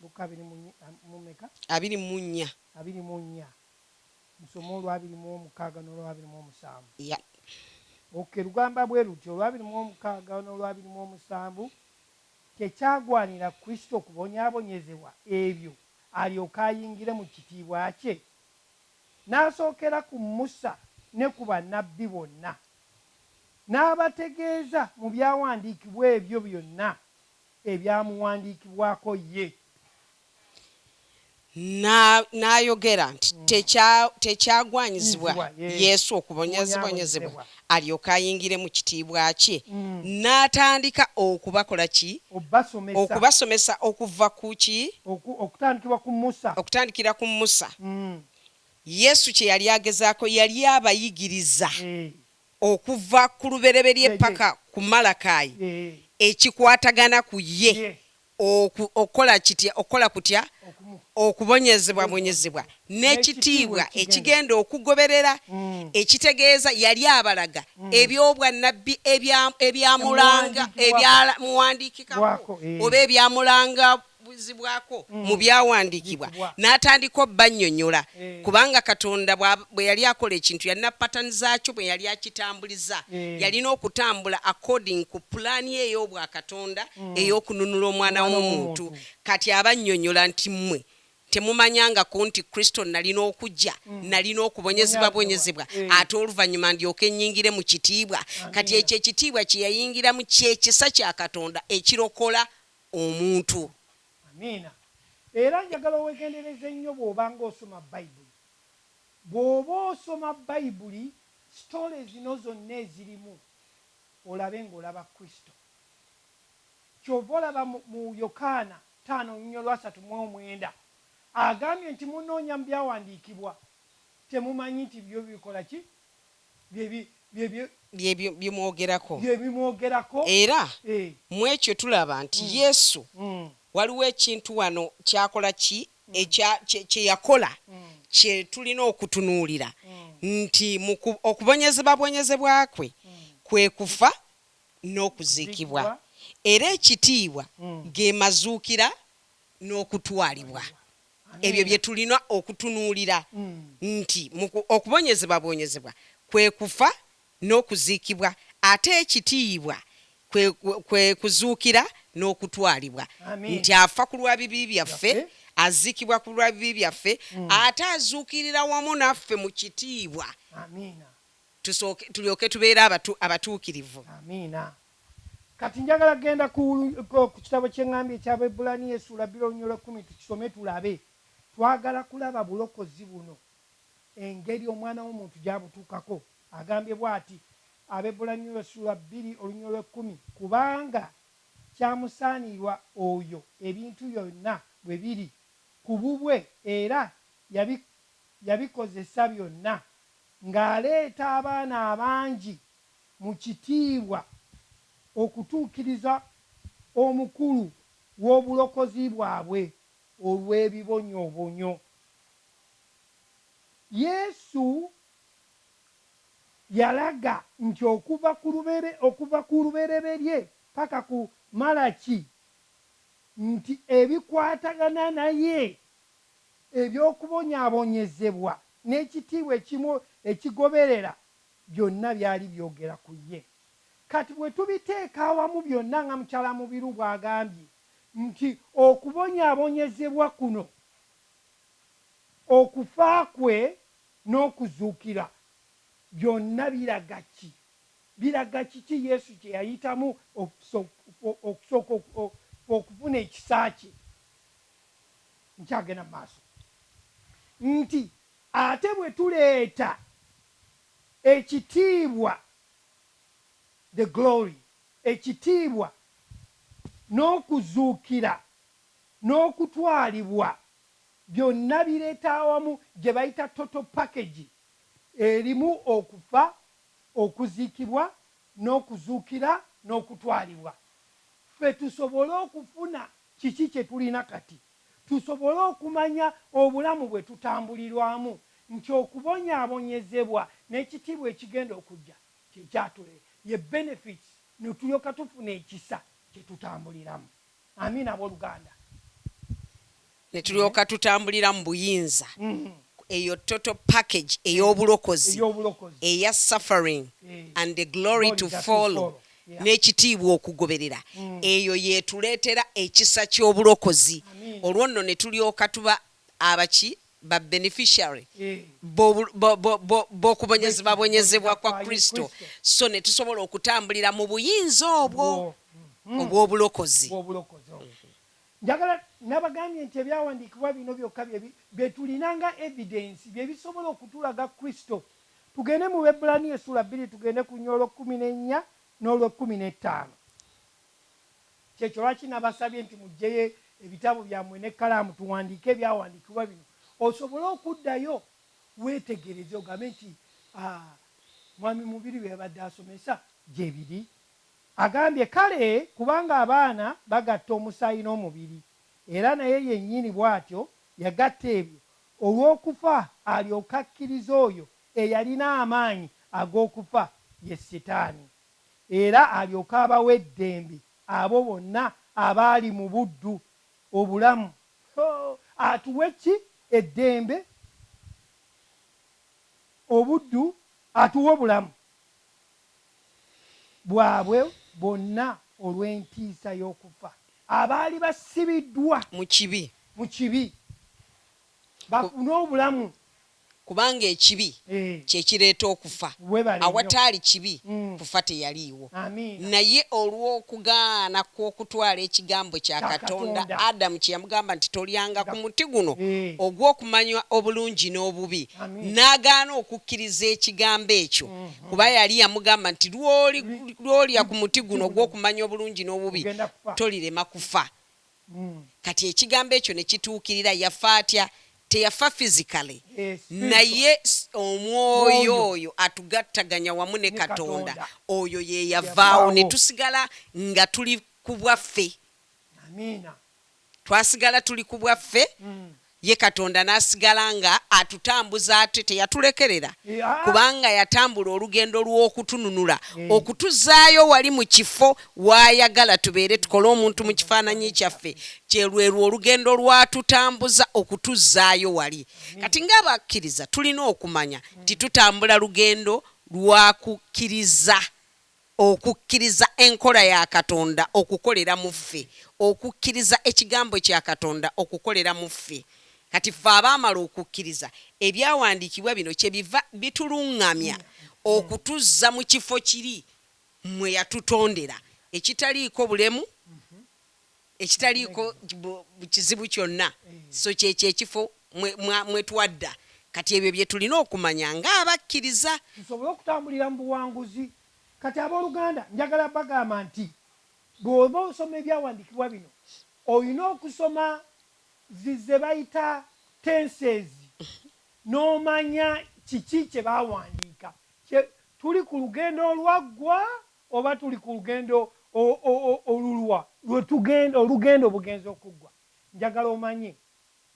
Lukka abiri mu nnya, a, mu mmeka? Abiri mu nnya. Abiri mu nnya. Musome olwa abiri mu omukaaga n'olwa abiri mu omusanvu. Yep. Okay, lugamba bwe luti, Olwa abiri mu omukaaga n'olwa abiri mu omusanvu tekyagwanira Kristo kubonyaabonyezebwa ebyo alyoke ayingire mu kitiibwa kye? N'asookera ku Musa ne ku bannabbi bonna, n'abategeeza mu byawandiikibwa ebyo byonna ebyamuwandiikibwako ye. Na, n'ayogera nti, Tekya, tekyagwanyizibwa Nyizibwa, yee, Yesu okubonyaazibonyezebwa, kubonyaabonyezebwa. alyoke ayingire mu Kitiibwa Kye. N'atandika okubako-la ki? Obbasomesa. Okubasomesa okuva ku ki? Oku, okutandikibwa ku Musa. Okutandikira ku Musa. Mm. Yesu kye yali agezaako, yali abayigiriza. Eeh. okuva ku Lubereberye paka ku Malakayi, ekikwatagana ku ye oku, okukola kitya? Okukola kutya? Okubonyezebwabonyezebwa n'ekitiibwa ekigenda okugoberera, ekitegeeza Yali abalaga eby'obwannabbi ebya, ebyamulanga, ebyamuwandiikikako, oba ebyamulangako. buzibwako mu byawandiikibwa n'atandika obbannyonyola kubanga Katonda bwe yali akola ekintu yalina pattern zaakyo bwe yali akitambuliza yalina okutambula according ku pulaani ey'obwakatonda ey'okununula omwana w'omuntu kati abannyonyola nti mmwe temumanyangako nti Kristo nalina okujja nalina okubonyezebwabonyezebwa ate oluvannyuma ndyoke nnyingire mu kitiibwa kati ekyo ekitiibwa kye yayingiramu ky'ekisa kya Katonda ekirokola omuntu. Amiina. Era njagala owegendereze nnyo bw'oba nga osoma Bayibuli. Bw'oba osoma Bayibuli, sitole zino zonna ezirimu, olabe nga olaba Kristo. Ky'ova olaba mu, mu Yokaana taano nnyo lwasatu mu omwenda, agambye nti, Munoonya mu Byawandiikibwa, temumanyi nti byo bikola ki? byebimwogerako era mu ekyo tulaba nti Yesu waliwo ekintu wano kyakola ki kyeyakola kye tulina okutunuulira nti mu okubonyezebabwonyezebwa kwe kwe kufa n'okuziikibwa era ekitiibwa ge mazuukira n'okutwalibwa. Ebyo bye tulina okutunuulira nti mu okubonyezebwabonyezebwa kwe kufa n'okuziikibwa, ate ekitiibwa kwe, kwe kuzuukira n'okutwalibwa, nti afa ku lwa bibi byaffe, aziikibwa ku lwa bibi byaffe, ate azuukirira wamu naffe mu kitiibwa, tusooke, tulyoke tubeere abatu, abatuukirivu. Kati njagala kugenda ku, ku kitabo kye ŋŋambye eky'Abaebbulaniya essuula bbiri olunyolo ekkumi tukisome tulabe. Twagala kulaba bulokozi buno, engeri Omwana w'omuntu gy'abutuukako. Agambye bw'ati, Abaebbulaniya essuula bbiri olunyolo ekkumi, Kubanga kyamusaanirwa oyo ebintu byonna bwe biri ku bubwe era yabi, yabikozesa byonna, ng'aleeta abaana abangi mu kitiibwa okutuukiriza omukulu w'obulokozi bwabwe olw'ebibonyoobonyo. Yesu yalaga nti okuva ku okuva ku Lubereberye paka ku Malaki nti ebikwatagana naye, eby'okubonyaabonyezebwa n'ekitiibwa ekimu ekigoberera, Byonna byali byogera ku ye. Kati bwe tubiteeka awamu byonna nga Mukyala Mubiru bw'agambye nti okubonyaabonyezebwa kuno, okufa kwe n'okuzuukira byonna biraga ki? Biraga kiki Yesu kye yayitamu okusooka okufuna ekisa kye? Nkyagenda mu maaso nti ate bwe tuleeta. Ekitiibwa, the glory, ekitiibwa n'okuzuukira n'okutwalibwa byonna bireeta awamu gye bayita total package erimu okufa, okuziikibwa n'okuzuukira n'okutwalibwa ffe tusobole okufuna kiki kye tulina kati. tusobole okumanya obulamu bwe tutambulirwamu nti okubonyaabonyezebwa n'ekitiibwa ekigenda okujja kye kyatule, ye benefits, ne tulyoka tufuna ekisa kye tutambuliramu. Amiina, ab'oluganda. Ne tulyoka tutambulira mu buyinza, eyo total package ey'obulokozi, eya suffering and the glory to follow, n'ekitiibwa okugoberera eyo y'etuleetera ekisa ky'obulokozi olwo nno ne tulyoka tuba aba ki? ba beneficiary b'okubonyezebwabonyezebwa kwa Kristo sso ne tusobola okutambulira mu buyinza obwo obw'obulokozi. Njagala nabagambye nti ebyawandiikibwa bino byokka bye tulina nga evidence bye bisobola okutulaga Kristo Tugende mu Bebbulaniya essula bbiri tugende ku nyolwo kkumi n'ennya n'olwe kkumi n'ettaano. Kyekyo lwaki nabasabye nti mujjeyo ebitabo byammwe n'ekkalaamu tuwandiike ebyawandiikibwa bino osobole okuddayo weetegereze ogambe nti, Aa, Mwami Mubiru bye yabadde asomesa gye biri. Agambye, Kale, kubanga abaana bagatta omusaayi n'omubiri, era naye yennyini bw'atyo yagatta ebyo, olw'okufa alyoke akkirize oyo eyalina amaanyi ag'okufa, ye Sitaani, era alyoke abawe eddembe abo bonna abaali mu buddu, obulamu. Hoo! Atuwe ki? Eddembe, obuddu, atuwe obulamu. bwabwe bwonna olw'entiisa y'okufa, abaali basibiddwa mu kibi, mu kibi bafune obulamu. Kubanga ekibi kye kireeta okufa, awataali kibi kufa teyaliiwo. Naye olw'okugaana kw'okutwala ekigambo kya Katonda, Adamu kye yamugamba nti, Tolyanga ku muti guno ogw'okumanya obulungi n'obubi, n'agaana okukkiriza ekigambo ekyo, kuba yali yamugamba nti lwolya ku muti guno ogw'okumanya obulungi n'obubi tolirema kufa hmm. kati ekigambo ekyo ne kituukirira yafa atya teyafa physically eh, naye omwoyo oyo atugattaganya wamu ne katonda oyo ye yavaawo ne tusigala nga tuli ku bwaffe Twasigala tuli ku bwaffe, ye Katonda n'asigala nga atutambuza ate teyatulekerera kubanga yatambula olugendo lw'okutununula okutuzaayo wali mu kifo w'ayagala tubeere tukole omuntu mu kifaananyi kyaffe kye lwerwo olugendo lw'atutambuza okutuzzaayo wali kati nga abakkiriza tulina okumanya nti tutambula lugendo lwa kukkiriza Okukkiriza enkola ya Katonda okukolera mu ffe, okukkiriza Ekigambo kya Katonda okukolera mu ffe. Kati ffe abaamala okukkiriza, Ebyawandiikibwa bino kyebiva bitulunngamya okutuzza mu kifo kiri mwe yatutondera, ekitaliiko bulemu. ekitaliiko kizibu kyonna, so kye kye kifo mwe, mwa, mwe twadda. Kati ebyo bye tulina okumanya nga abakkiriza. Tusobole okutambulira mu buwanguzi. Kati, ab'oluganda, njagala bagamba nti, bw'oba osoma Ebyawandiikibwa bino, olina okusoma zi, ze bayita tenses, n'omanya kiki kye baawandiika. Kye, tuli ku lugendo olwaggwa. Oba tuli ku lugendo oluluwa? Lwe tugenda, olugendo bugenze okuggwa. Njagala omanye,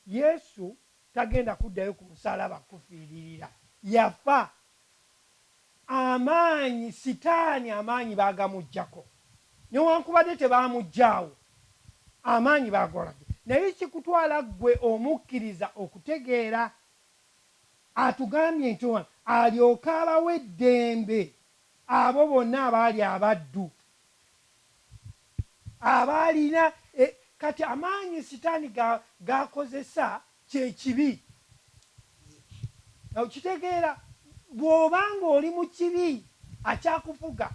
Yesu tagenda kuddayo ku musalaba kukufiiririra. Yafa. Amaanyi, sitaani amaanyi baagamuggyako. Newankubadde tebaamuggyaawo, amaanyi baagolagga. Naye kikutwala ggwe omukkiriza okutegeera, Atugambye nti, Alyoke abawe eddembe Abo bonna abaali abaddu, abaalina e, kati amaanyi Sitaani ga, g'akozesa kye kibi. Okitegeera? Bw'oba nga oli mu kibi, akyakufuga.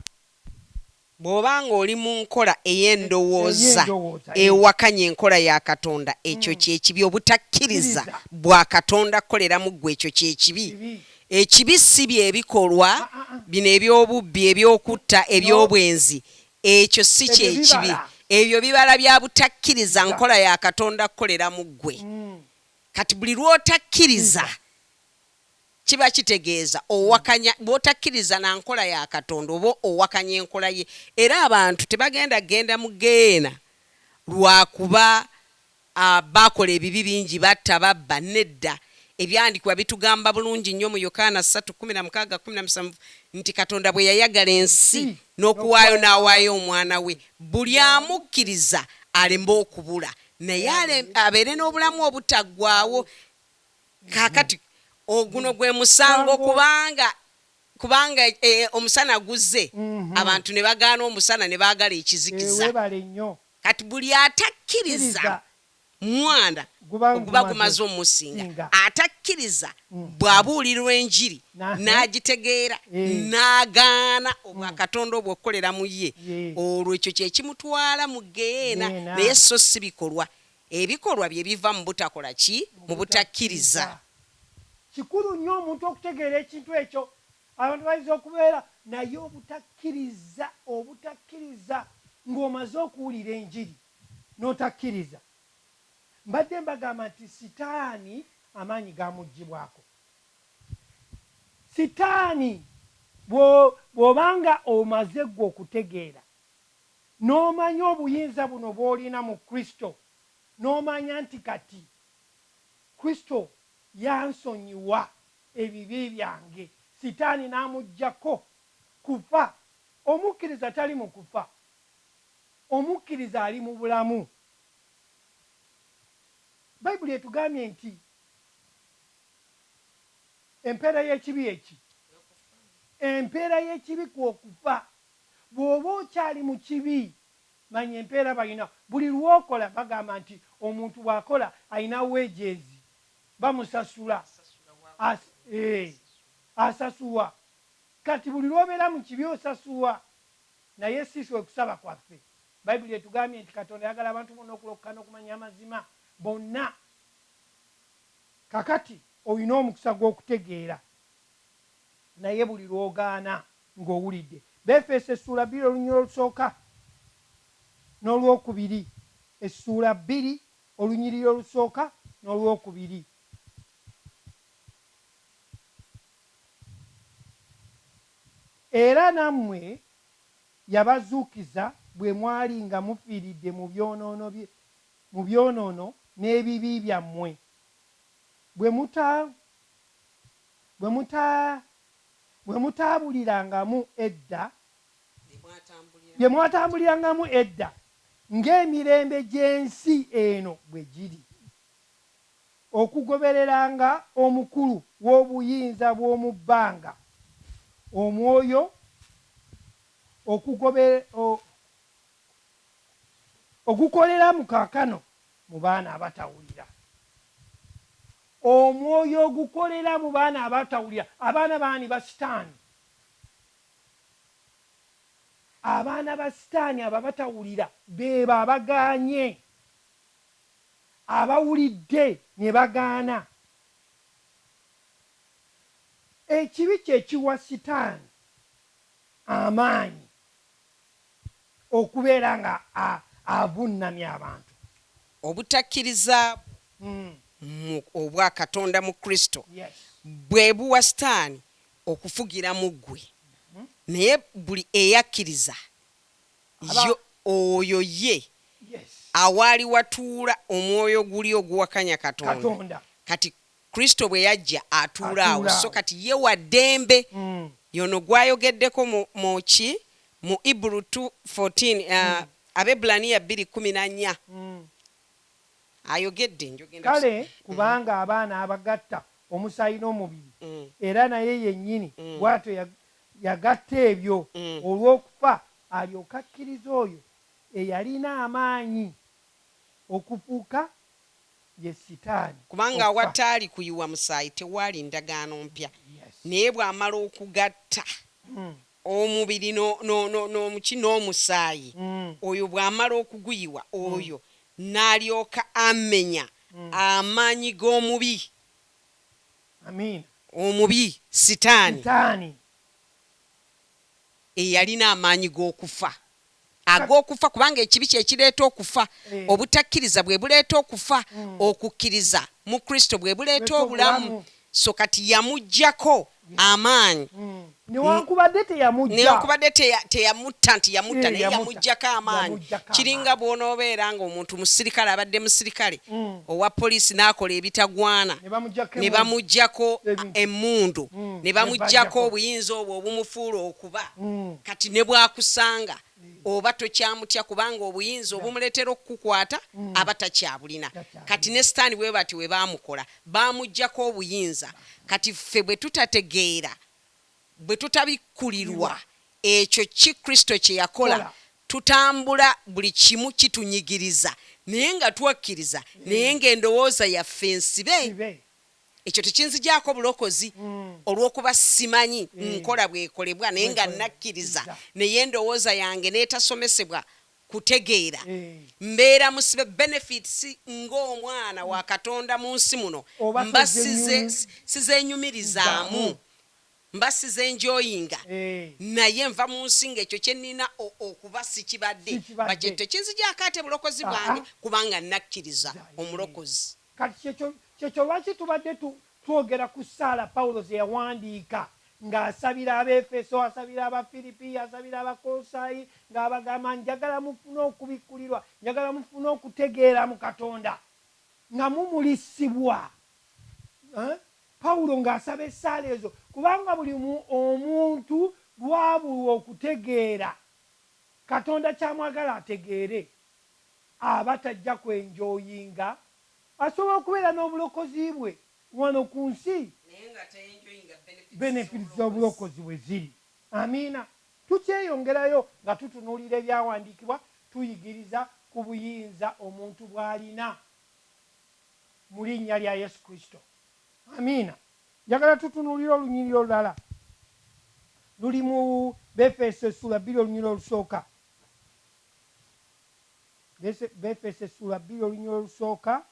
Bw'oba nga oli mu nkola ey'endowooza ewakanya enkola ya Katonda, ekyo kye kibi. Obutakkiriza bwa Katonda kukolera mu ggwe, ekyo kye kibi. Ekibi si bye bikolwa bino eby'obubbi, eby'okutta, eby'obwenzi. Ekyo si kye kibi. Ebyo bibala bya butakkiriza nkola ya Katonda kukolera mu ggwe. Kati buli lw'otakkiriza, kiba kitegeeza owakanya, bw'otakkiriza na nkola ya Katonda oba owakanya enkola Ye. Era abantu tebagenda kugenda mu ggeyeena lwa kuba Abaakola ebibi bingi, batta, babba, nedda. Ebyandikiwa bitugamba bulungi nnyo mu Yokaana ssatu kkumi na mukaaga, kkumi na musanvu nti Katonda bwe yayagala ensi n'okuwaayo n'awaayo Omwana we, buli amukkiriza aleme okubula, naye abeere n'obulamu obutaggwaawo. Kaakati, guno gwe musango, kubanga, kubanga e, omusana guzze, abantu ne bagaana omusana ne baagala ekizikiza. Kati buli atakkiriza Mwana oguba gumaze omusinga, atakkiriza bw'abuulirwa Enjiri n'agitegeera n'agaana obwa Katonda obwo okukolera mu ye, olwo ekyo kye kimutwala mu ggeyeena, naye sso ssi bikolwa. Ebikolwa bye biva mu butakola ki? Mu butakkiriza. Kikulu nnyo omuntu okutegeera ekintu ekyo Abantu bayinza okubeera naye obutakkiriza, obutakkiriza, ng'omaze okuwulira enjiri n'otakkiriza. Mbadde mbagamba nti sitaani amaanyi gamuggyibwako. Sitaani bwo, bw'oba nga omaze ggwe okutegeera, n'omanya obuyinza buno bw'olina mu Kristo, n'omanya nti kati Kristo yansonyiwa. ebibi byange, Sitaani n'amuggyako kufa. Omukkiriza tali mu kufa. Omukkiriza ali mu bulamu. Bayibuli etugambye nti empeera y'ekibi ye ki? Empeera y'ekibi kwo kufa. Bw'oba okyali mu kibi, manya empeera balina. Buli lw'okola, bagamba nti omuntu bw'akola alina wages, bamusasula as eeh asasuwa Kati buli lwobera mukibi osasuwa naye siswa okusaba kwaffe baibuli etugambye nti katonda ayagala abantu bona okulokoka nokumanya amazima bonna kakati oyina omukisa gwokutegeera naye buli lwogaana nga owulidde befeeso essuula bbiri olunyira olusooka nolwokubiri essuula bbiri Olunyiriri olusooka n'olwokubiri. Era nammwe yabazuukiza bwe mwali nga mufiiridde mu byonoono bye, mu byonoono n'ebibi byammwe, bwe muta, bwe muta, bwe mutaabulirangamu edda bye mwatambulirangamu edda, ng'emirembe gy'ensi eno bwe giri, okugobereranga omukulu w'obuyinza bw'omu bbanga, omwoyo, ogukolera mu kaakano mu baana abatawulira. Omwoyo ogukolera mu baana abatawulira. Abaana baani? Ba Sitaani. Abaana ba sitaani abo abatawulira beebo abagaanye, abawulidde ne bagaana. Ekibi kye kiwa sitaani amaanyi okubeera nga avunnamya abantu. Obutakkiriza bwo mu obwa Katonda mu Kristo bwe buwa sitaani okufugira mu ggwe, naye buli eyakkiriza Ye, oyo ye awaali watuula omwoyo guli oguwakanya Katonda. Kati Kristo bwe yajja, atuula awo. So kati Ye wa ddembe. Y'ono gw'ayogeddeko mu, mu ki? Mu Ebru ii fourteen, Abaebbulaniya bbiri kkumi na nnya. Ayogedde, njogenda kusoma. Kale kubanga abaana abagatta omusaayi n'omubiri, era naye yennyini bw'atyo yagatta ebyo olw'okufa, alyoke akkirize oyo eyalina amaanyi okufuuka ye Sitaani, Kubanga okufa. awataali kuyiwa musaayi, tewaali ndagaano mpya, naye bw'amala okugatta. omubiri no, no, no, no, ki, n'omusaayi, oyo bw'amala okuguyiwa, oyo n'alyoka amenya amaanyi g'omubi. Amiina. Omubi, Sitaani, Sitaani. eyalina amaanyi g'okufa. ag'okufa, kubanga ekibi kye kireeta okufa, obutakkiriza bwe buleeta okufa, okukkiriza mu Kristo bwe buleeta obulamu. So kati yamuggyako amaanyi. Newankubadde teyamujja. Newankubadde teyamutta nti yamutta, naye yamuggyako amaanyi. Kiringa bw'onoobeera ng'omuntu musirikale, abadde musirikale owa poliisi n'akola ebitagwana, ne bamuggyako emmundu, ne bamuggyako obuyinza obwo obumufuula oku. kuba mm. kati ne bwakusanga mm. oba tokyamutya kubanga obuyinza yeah. obumuleetera okukukwata mm. aba takyabulina kati ne sitaani bwe bati we baamukola baamugjako obuyinza kati ffe bwe tutategeera bwe tutabikkulirwa ekyo ki kristo kye yakola tutambula buli kimu kitunyigiriza naye nga twakkiriza naye ng'endowooza yaffe nsibe Ekyo tekinzigyako bulokozi, olw'okuba ssimanyi nkola bw'ekolebwa, naye nga nnakkiriza, naye endowooza yange n'etasomesebwa kutegeera, mbeera musibe benefits ng'omwana wa Katonda mu nsi muno, mba size, sizeenyumirizaamu, mba sizenjoyinga, naye nva mu nsi nga ekyo kye nnina o, okuba sikibadde. Ba kye, tekinzigyako ate bulokozi bwange, kubanga nnakkiriza Omulokozi. Kati, ky'ekyo, ky'ekyo lwaki tubadde tu, twogera ku ssaala Pawulo ze yawandiika, nga asabira Abeefeso, asabira Abafiripi, asabira Abakolosaayi, nga abagamba, Njagala mufune okubikkulirwa, njagala mufune okutegeera mu Katonda, nga mumulisibwa. Ha, Pawulo nga asaba essaala ezo, kubanga buli mu, omuntu lw'abulwa okutegeera, Katonda ky'amwagala ategeere. aba tajja ku enjoyinga. Asobola okubeera n'obulokozi bwe wano ku nsi, benefits z'obulokozi bwe ziri. Amiina. Tukyeyongerayo nga tutunuulira ebyawandiikibwa, tuyigiriza ku buyinza omuntu bw'alina mu linnya lya Yesu Kristo. Amiina. Njagala tutunuulire olunyiriri olulala. Luli mu Befeeso essuula bbiri olunyiriri olusooka. Befeso essula bbiri olunyira olusooka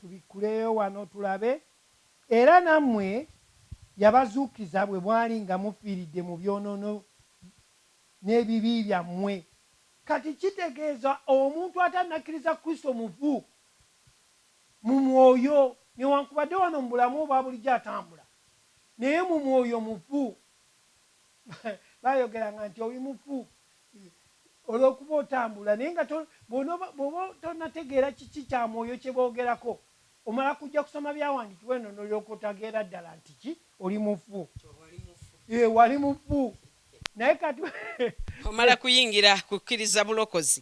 tubikkuleyo wano tulabe. Era nammwe yabazuukiza bwe mwali nga mufiiridde mu byonoono n'ebibi byammwe. Kati kitegeeza omuntu atannakkiriza Kristo mufu mu mwoyo, newankubadde wano mu bulamu obwa bulijjo atambula, naye mu mwoyo mufu. Bayogeranga nti oli mufu, Olw'okuba otambula naye nga bw'oba tonategeera kiki kya mwoyo kye boogerako, omala kujja kusoma byawandiikibwa eno n'olyoka otageera ddala nti ki oli mufu. Eeh wali mufu naye kati. Omala kuyingira kukkiriza bulokozi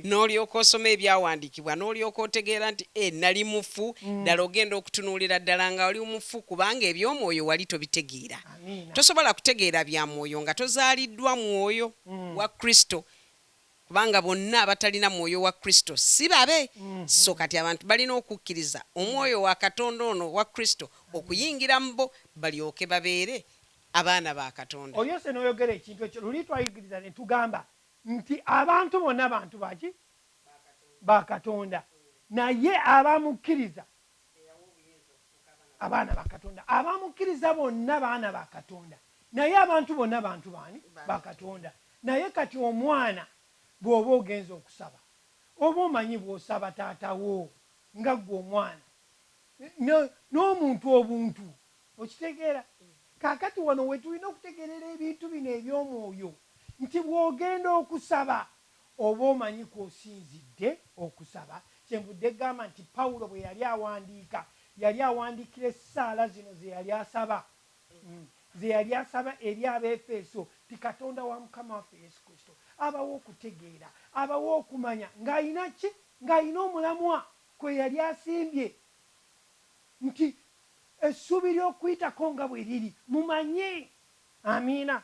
n'olyoka osoma ebyawandiikibwa n'olyoka otegeera nti eeh nali mufu ddala ogenda okutunuulira ddala nga oli mufu kubanga eby'omwoyo wali tobitegeera. Tosobola kutegeera bya Mwoyo nga tozaaliddwa Mwoyo wa Kristo, kubanga bonna abatalina Mwoyo wa Kristo si babe. So kati abantu balina okukkiriza Omwoyo wa Katonda ono owa Kristo okuyingira mu bo, balyoke babeere abaana ba Katonda. Oyose n'oyogera ekintu ekyo. Luli twayigiriza ne tugamba nti abantu bonna bantu ba ki? Ba Katonda. Naye abamukkiriza eyawa obuyinza okufuuka abaana ba Abaana ba Katonda. Abamukkiriza bonna baana ba Katonda. Naye abantu bonna bantu baani? Ba Katonda. Naye kati omwana bw'oba ogenze okusaba, oba omanyi bw'osaba taata wo, nga ggwe omwana, ne, n'omuntu obuntu. Okitegeera? Kaakati wano we tulina okutegeerera ebintu bino eby'omwoyo, nti bw'ogenda okusaba, Oba omanyi kw'osinzidde okusaba? Kyenvudde gamba nti Pawulo bwe yali awandiika, yali awandiikira essaala zino ze yali asaba, ze yali asaba eri Abeefeso nti, Katonda wa Mukama waffe Yesu Kristo abawe okutegeera, abawe okumanya, ng'alina ki? Ng'alina omulamwa kwe yali asimbye nti, Essuubi ly'Okuyitako nga bwe liri, mumanye. Amiina.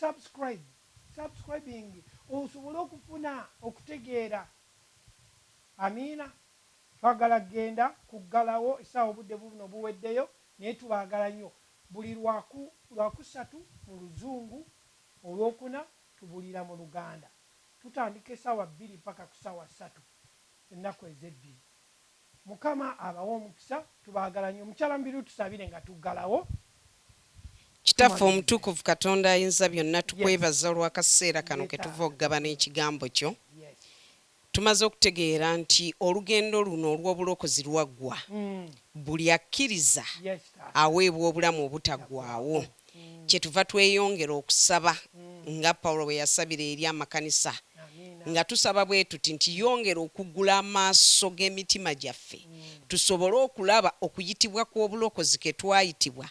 Subscribe subscribing osobole okufuna okutegeera amiina. Twagala genda kuggalawo esaawa obudde bubuno buweddeyo naye tubaagala nyo buli lwaku lwakusatu mu luzungu olwokuna tubulira mu luganda tutandika esaawa bbiri mpaka ku saawa satu ennaku ezebbiri. Mukama abawe omukisa tubagala nyo. Mukyala mubiru tusabire nga tuggalawo. Kitaffe omutukuvu Katonda ayinza byonna tukwebaza olwakaseera kano ketuva okugabana ekigambo kyo. Tumaze okutegeera nti olugendo luno olwobulokozi lwaggwa. Buli akkiriza aweebwa obulamu obutaggwaawo. Kyetuva tweyongera okusaba nga Paulo bwe yasabira eri amakanisa, nga tusaba bwe tuti nti, Yongera okuggula amaaso g'emitima gyaffe, tusobole okulaba okuyitibwa kw'obulokozi ke twayitibwa,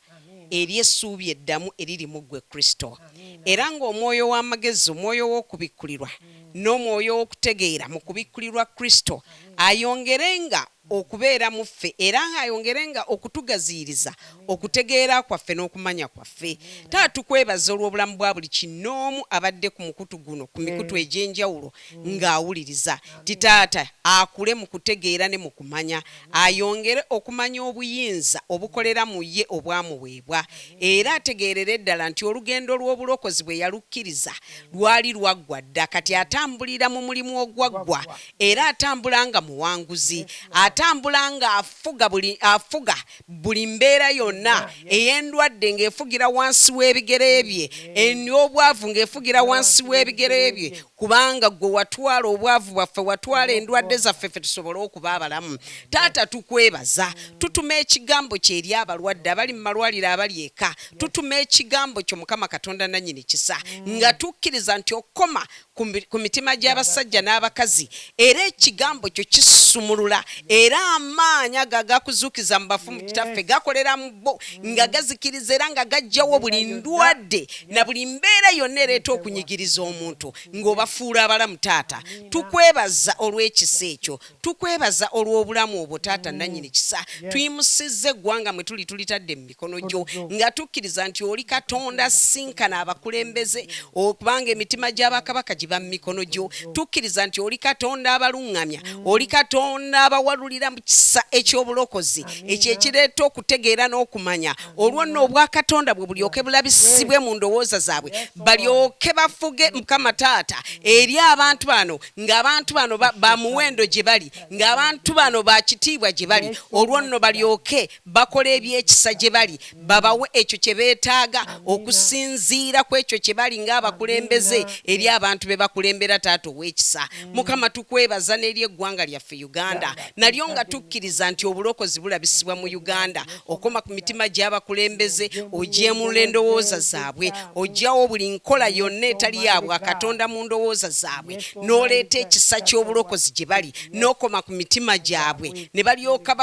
eri essuubi eddamu eriri mu ggwe, Kristo. Era nga omwoyo w'amagezi, omwoyo w'okubikkulirwa, n'omwoyo w'okutegeera mu kubikkulirwa Kristo ayongerenga okubeera mu ffe era nga ayongere nga okutugaziyiriza okutegeera kwaffe n'okumanya kwaffe. Taata tukwebaza olw'obulamu bwa buli kinnoomu abadde ku mukutu guno ku mikutu egy'enjawulo nga awuliriza. Ti taata akule mu kutegeera ne mu kumanya, ayongere okumanya obuyinza obukolera mu ye obwamuweebwa era ategeerere ddala nti olugendo lw'obulokozi bwe yalukkiriza lwali lwaggwa dda kati atambulira mu mulimu ogwaggwa era atambula nga muwanguzi atambula nga afuga buli afuga buli mbeera yonna ey'endwadde ng'efugira wansi w'ebigere bye ey'obwavu ng'efugira wansi w'ebigere bye kubanga gwe watwala obwavu bwaffe watwala endwadde zaffe ffe tusobole okuba abalamu taata tukwebaza tutuma ekigambo kyo eri abalwadde abali mu malwaliro abali eka tutuma ekigambo kyo mukama katonda nannyini kisa nga tukkiriza nti okoma ku mitima gy'abasajja n'abakazi, era Ekigambo Kyo kisumulula, era Amaanyi ago agakuzuukiza mu bafu, Kitaffe, gakolera mu bo, nga gazikiriza era nga gaggyawo buli ndwadde na buli mbeera yonna ereeta okunyigiriza omuntu, nga Obafuula abalamu, Taata. Tukwebaza olw'ekisa ekyo. Tukwebaza olw'obulamu obwo Taata Nnannyini Kisa. Tuyimusizza eggwanga mwe tuli tulitadde mu mikono gyo nga tukkiriza nti oli Katonda asisinkana abakulembeze kubanga emitima gya Bakabaka giba mu mikono gyo. Tukkiriza nti oli Katonda abaluŋŋamya, oli Katonda abawalulira mu kisa eky'obulokozi ekyo ekireeta okutegeera n'okumanya olwo nno Obwakatonda bwo bulyoke bulabisibwe mu ndowooza zaabwe balyoke bafuge Mukama Taata eri abantu bano ng'abantu bano ba muwendo gye bali ng'abantu bano ba kitiibwa gye bali olwo nno balyoke bakola ebyekisa gye bali babawe ekyo kye beetaaga okusinziira ku ekyo kye bali ng'abakulembeze eri abantu be bakulembera taata ow'ekisa mm. mukama tukwebaza n'eri eggwanga lyaffe uganda nalyo nga tukkiriza nti obulokozi bulabisibwa mu uganda okoma ku mitima gy'abakulembeze ogyemulula endowooza zaabwe ogyawo buli nkola yonna etali yabwa katonda mu ndowooza zaabwe n'oleeta ekisa ky'obulokozi gye bali n'okoma ku mitima gyabwe ne balyoka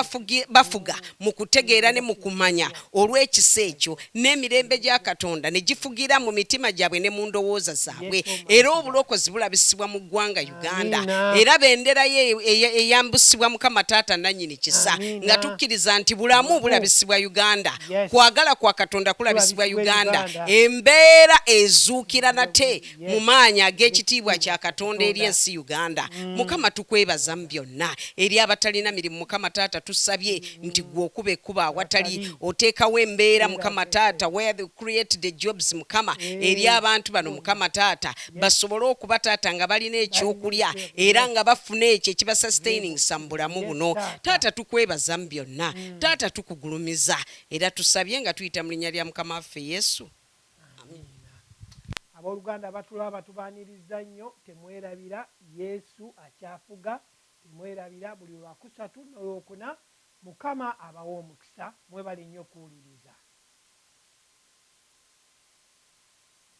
bafuga mu kutegeera ne mu kumanya olw'ekisa ekyo n'emirembe gya katonda ne gifugira mu mitima gyabwe ne mu ndowooza zaabwe era obulokozi bulabisibwa mu ggwanga uganda era bendera ye eyambusibwa mukama taata nanyini kisa nga tukkiriza nti bulamu bulabisibwa uganda kwagala kwa katonda kulabisibwa uganda embeera ezuukira nate mu maanyi ag'ekitiibwa kya katonda eri ensi uganda mm. mukama tukwebaza mu byonna eri abatalina mirimu mukama taata tusabye nti gwe okuba ekkuba awatali oteekawo embeera mukama taata where the create the jobs mukama eri abantu bano mukama taata basobole okuba taata nga balina ekyokulya era nga bafuna ekyo ekiba sustaininsa mu bulamu buno taata tukwebaza mu byonna mm. taata tukugulumiza era tusabye nga tuyita mu linnya lya mukama waffe yesu abooluganda batulaba tubaaniriza nnyo temwerabira yesu akyafuga temwerabira buli lwakusatu nolwokuna mukama abawa omukisa mwebale nnyo okuwuliriza